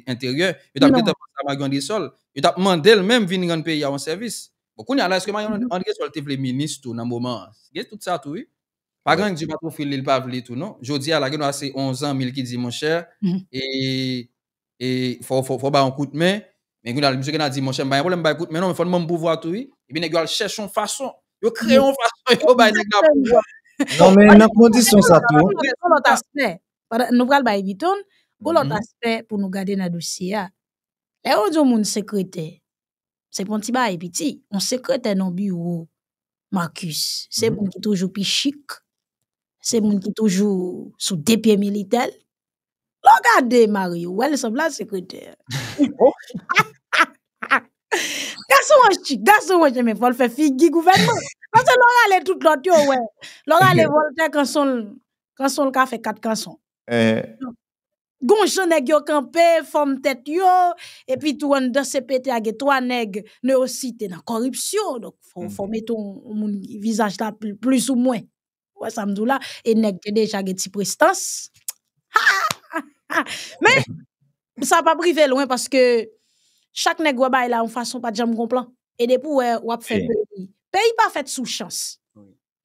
enteryè. Yo tap gentan pase a Maguy Andrésol. Yo tap mandel menm vin rann peyi a yon sèvis. Bon, kounye a la, eske Maguy Andrésol te vle minis tou nan moman an? Gen tout sa tou wi. Pa gen anyen Dieu pat ofri li, li pa vle tou non. Jodi a la, gen dwa se on zanmi l ki di, monchè, e e fò fò ba yon kout men, men kounye a misye gen a di monchè m pa gen pwoblèm bay kout men non men fò n ban m pouvwa tou wi, epi nèg yo al chèche yon fason, yo kreye yon fason pou yo bay nèg la pouvwa. Non men nan kondisyon sa tou. Gon lòt aspè, pandan nou pral bay Vyton, gon lòt aspè pou nou gade nan dosye a. Lè yo di yon moun sekretè, Se pou yon ti bagay piti. Yon sekretè nan biwo Marcus, se moun ki toujou pi chik, se moun ki toujou sou de pye militè l. Lè w gade Mario, ou wè li sanble ak sekretè. Gason an chik, gason an chik, men fò l fè figi gouvènman. Pase lè w rale tout lòt yo, ou wè. Lè w rale Voltè kanson l, kanson l ka fè kat kanson. Gon jan nèg yo kanpe, fòm tèt yo, epi tou anndan CPT a gen 3 nèg Newsite nan kòripsyon, donk fò mete yon moun ki vizaj la plis ou mwen, ou wè sa m di w la, e nèg yo deja gen ti prestans, haahahha! Men, sa p ap rive lwen paske chak nèg wè bay la yon fason pa t janm gon plan, e depi w wè, w ap fè peyi. Peyi pa fèt sou chans.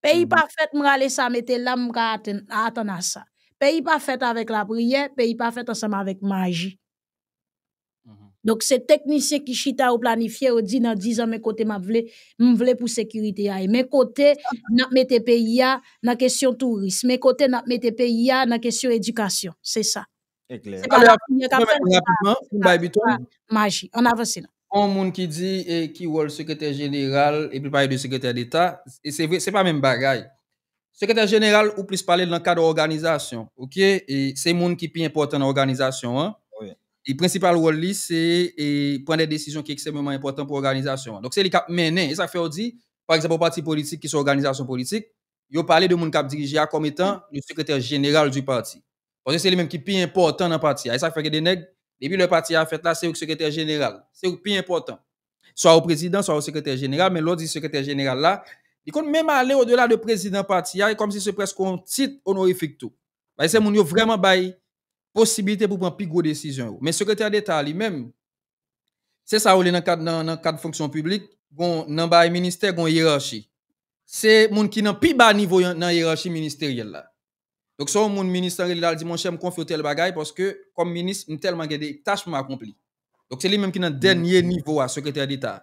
Peyi pa fèt m rale sa mete la m ka atann a sa. Peyi pa fèt avèk lapriyè, peyi pa fèt ansanm avèk maji. Donk se teknisyen ki chita yo planifye yo di nan dizan men kote m ap vle, m vle pou sekirite a ye. Men kote n ap mete peyi a nan kesyon touris, men kote n ap mete peyi a nan kesyon edikasyon. Se sa. E klè. Se pa la priyè k'ap fèl. Mwen menm rapidman pou m bay biton. Se pa maji. Ann avanse non. On moun ki di e ki wòl sekretè jeneral epi l pale de sekretè deta, e se vre se pa menm bagay. Sekretè jeneral ou plis pale l nan kad òganizasyon ok e se moun ki pi enpòtan nan òganizasyon an. Wi. E prensipal wòl li se e pran dè desizyon ki eksememan enpòtan pou òganizasyon an. Donk se li k'ap mennen. E sa k fè ou di pa egzanp on pati politik ki son òganizasyon politik, yo pale de moun kap dirije a kòm etan le secrétaire général du parti. Paske se li menm ki pi enpòtan nan pati a. E sa k fè gen de nèg, depi lè pati a fèt la, se yo ki sekretè jeneral. Se yo ki pi enpòtan. Swa yo prezidan, swa yo sekretè jeneral, men lè w di sekretè jeneral la, li konn menm ale odela de prezidan pati a, e kòmsi se prèske yon tit onorifik tou. Paske se moun yo vrèman bay posibilite pou pran pi gwo desizyon yo. Men sekretè deta a li menm, Se sa yo rele nan kad nan kad fonksyon piblik, gon nan bay ministè gon yerachi. Se moun ki nan pi ba nivo yon nan yerachi ministeryèl la. Donk se yon moun minis lan rele l al di monchè m konfye w tèl bagay paske kòm minis m tèlman gen de tach pou m akonpli. Donk se li menm ki nan dènye nivo a sekretè deta.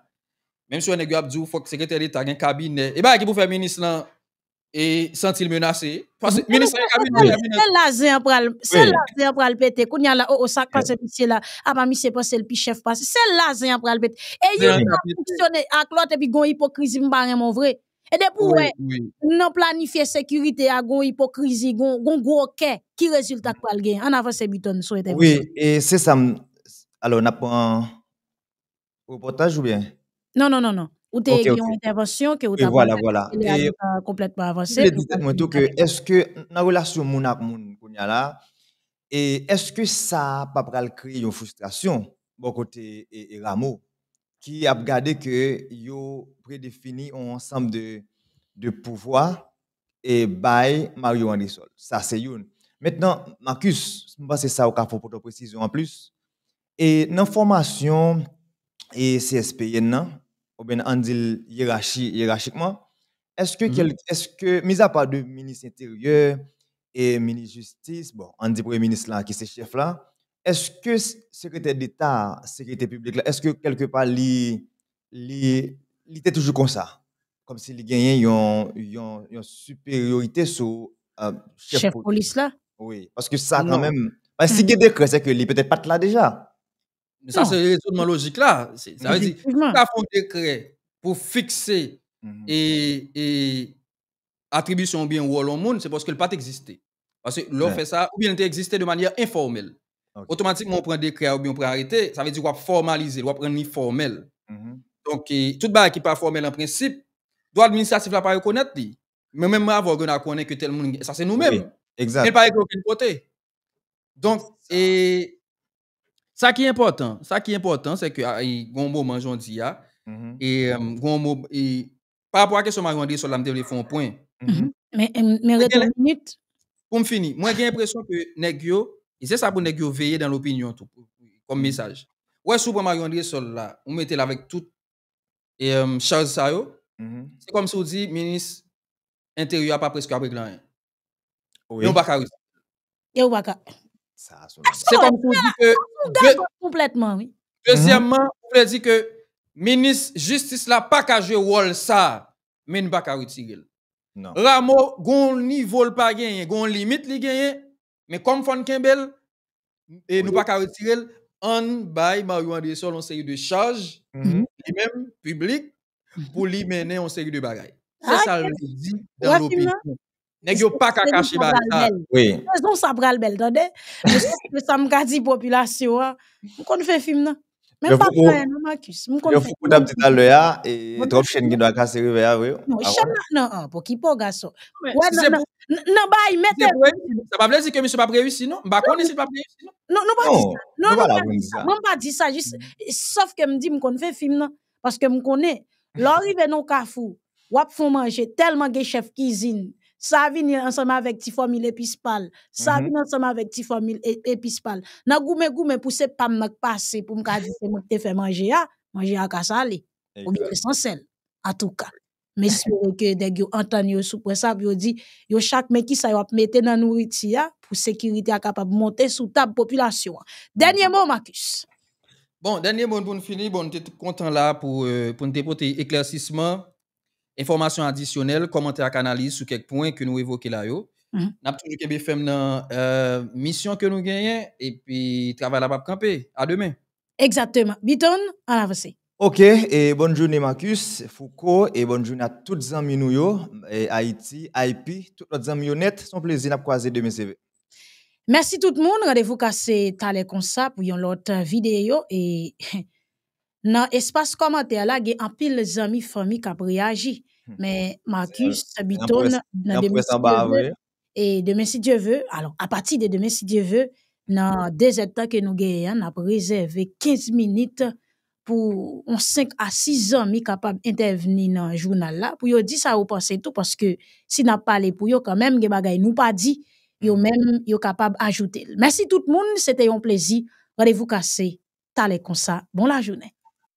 Menm si wè nèg yo ap di w fòk sekretè deta gen kabinè. E bagay ki pou fè minis lan E santi l menase. Minis la ka vini. Se la zen an pral. Se la zen an pral pete. Koun ya la. O o sak pase misye la. A pa misye panse l pi chef pase. Se la zen an pral pete. E yon an ap fonksyone ak lot. E pi gon ipokrizi m pa renmen w vre. E depi w wè. Nan planifye sekirite a gon ipokrizi. Gon gwo kè. Ki rezilta k pral gen. An avanse Biton sou entèvansyon. Wi. E se sa m. Alo n ap pran. Repòtaj ou byen? Non, non, non, non. Ou te gen yon entèvansyon ke ou ta pral fè kote lè a nou ta konplètman avanse. Mwen vle di tèt mwen tou ke eske nan relasyon moun ak moun kounya la, eske sa a pa pral kreye yon fristrasyon bò kote Ramo ki ap gade ke yo predefini yon ansanm de pouvwa e bay Mario Andrésol. Sa se youn. Mentnan, Marcus, m panse sa ou ka fè yon pote presizyon anplis, E nan fòmasyon e CSPN nan, oubyen ann di l yerachi, yerachikman, èske kèl, èske, mizapa de minis enteryè e minis jistis, bon, ann di premye minis la ki se chèf la, èske sekretè deta a sekirite piblik la, èske kèlke pa li li te toujou konsa, kòm si li genyen yon siperyorite sou chèf polis la. Wi, paske sa kan menm, si gen dekrè se ke li petèt pat la deja. Sa se rezonman lojik la. Si ta fon dekrè pou fikse e atribisyon oubyen wòl yon moun, se paske l pa t egziste. Paske lè w fè sa, oubyen l te egziste de manyè enfòmèl. Otomatikman ou pran dekrè a oubyen ou pran arete, sa vle di w ap fòmalize l, w ap rann li fòmèl. Donk, tout bagay ki pa fòmèl an prensip, dwa administratif la pa rekonèt li. Men menm avan w gen dwa konnen ke tèl moun, sa se nou menm. Men l pa ekri okenn kote. Donk, sa ki enpòtan, sa ki enpòtan, se ke gen yon moman jan w di a, gen yon moman, Pa rapò a kesyon Mario Andresol la m te vle fè yon pwen. Men rete yon minit. Pou m fini, mwen gen enpresyon ke nèg yo, e se sa pou nèg yo veye dan lopinyon tou, kòm mesaj. Ou wè si ou pran Mario Andresol la, ou mete l avèk tout chaj sa yo, se kòm si ou di minis enteryè a pa preske ap regle anyen. Yo baka wisi. Yo baka. Sa aso. Se kon pou di ke. Konpletman wi. Dezyèman, ou vle di ke minis jistis la pa ka jwe wòl sa a. Men nou pa ka retire l. Rameau gon nivo l pa genyen, gon limit li genyen, men kòm fò n kenbe l, e nou pa ka retire l, ann bay Mario Andresol yon seri de chaj, li menm, piblik, pou li mennen yon seri de bagay. Se sa l vle di dan lopinyon. Nèg yo pa ka kache ba l sa. Sezon sa pral bèl, tande. Mwen se sa m ka di popilasyon an. M konn fen fim nan. Menm pa fwaye non Marcus. M konn fouco tap di talè a e trop chen ki dwa kase revè a vre. Non chen nan nan an pou ki po gason. Nan bay mete. Sa pa vle di ke misye pap reyisi non. M pa konnen si l pap reyisi non. Non nou pa di sa. Mwen pa di sa jis sof ke m di m konn fè film nan. paske m konnen lè w rive nan yon kafou w ap fè yon manje tèlman gen chèf kizin sa vini ansanm avèk ti fòmil epis pa l sa vini ansanm avèk ti fòmil epis pa l nan goumen goumen pou se pa m nan k pase pou m ka di se mwen ki te fè manje a manje a ka sale oubyen li san sèl atouka. M espere ke nèg yo antann yo sou pwen sa pou yo di yo chak men kisa yo ap mete nan nouriti a pou sekirite a kapab monte sou tab popilasyon an. Dènye mo Marcus. Bon, dènye mo n pou n fini, bon n te kontan la pou pou n te pote eklèsisman, enfòmasyon adisyonèl, kòmantè ak analiz sou kèk pwen ke nou evoke la yo. N ap toujou kenbe fèm nan misyon ke nou genyen epi travay la p ap kanpe. A demen. Exactement. Biton, ann avanse. Ok, e bòn joune Marcus, Fouco, e bòn joune a tout zanmi nou yo, Ayiti, IP, tout lòt zanmi yo nèt, son plezi nap kwaze demen se ve. Mèsi tout moun, randevou ka se talè konsa pou yon lòt videyo e nan espas kòmantè la gen anpil zanmi fanmi kap reyaji men Marcus, Biton, nan demen se ve. e demen si Dye ve, alò a pati de demen si Dye ve nan 2 zèd tan ke nou genyen an nap rezève 15 minit pou yon 5 a 6 zanmi kapab entèvni nan jounal la pou yo di sa yo panse tou paske si nap pale pou yo kanmenm gen bagay nou pa di yo menm yo kapab ajoute l. Mèsi tout moun se te yon plezi randevou kase talè konsa bon lajounen.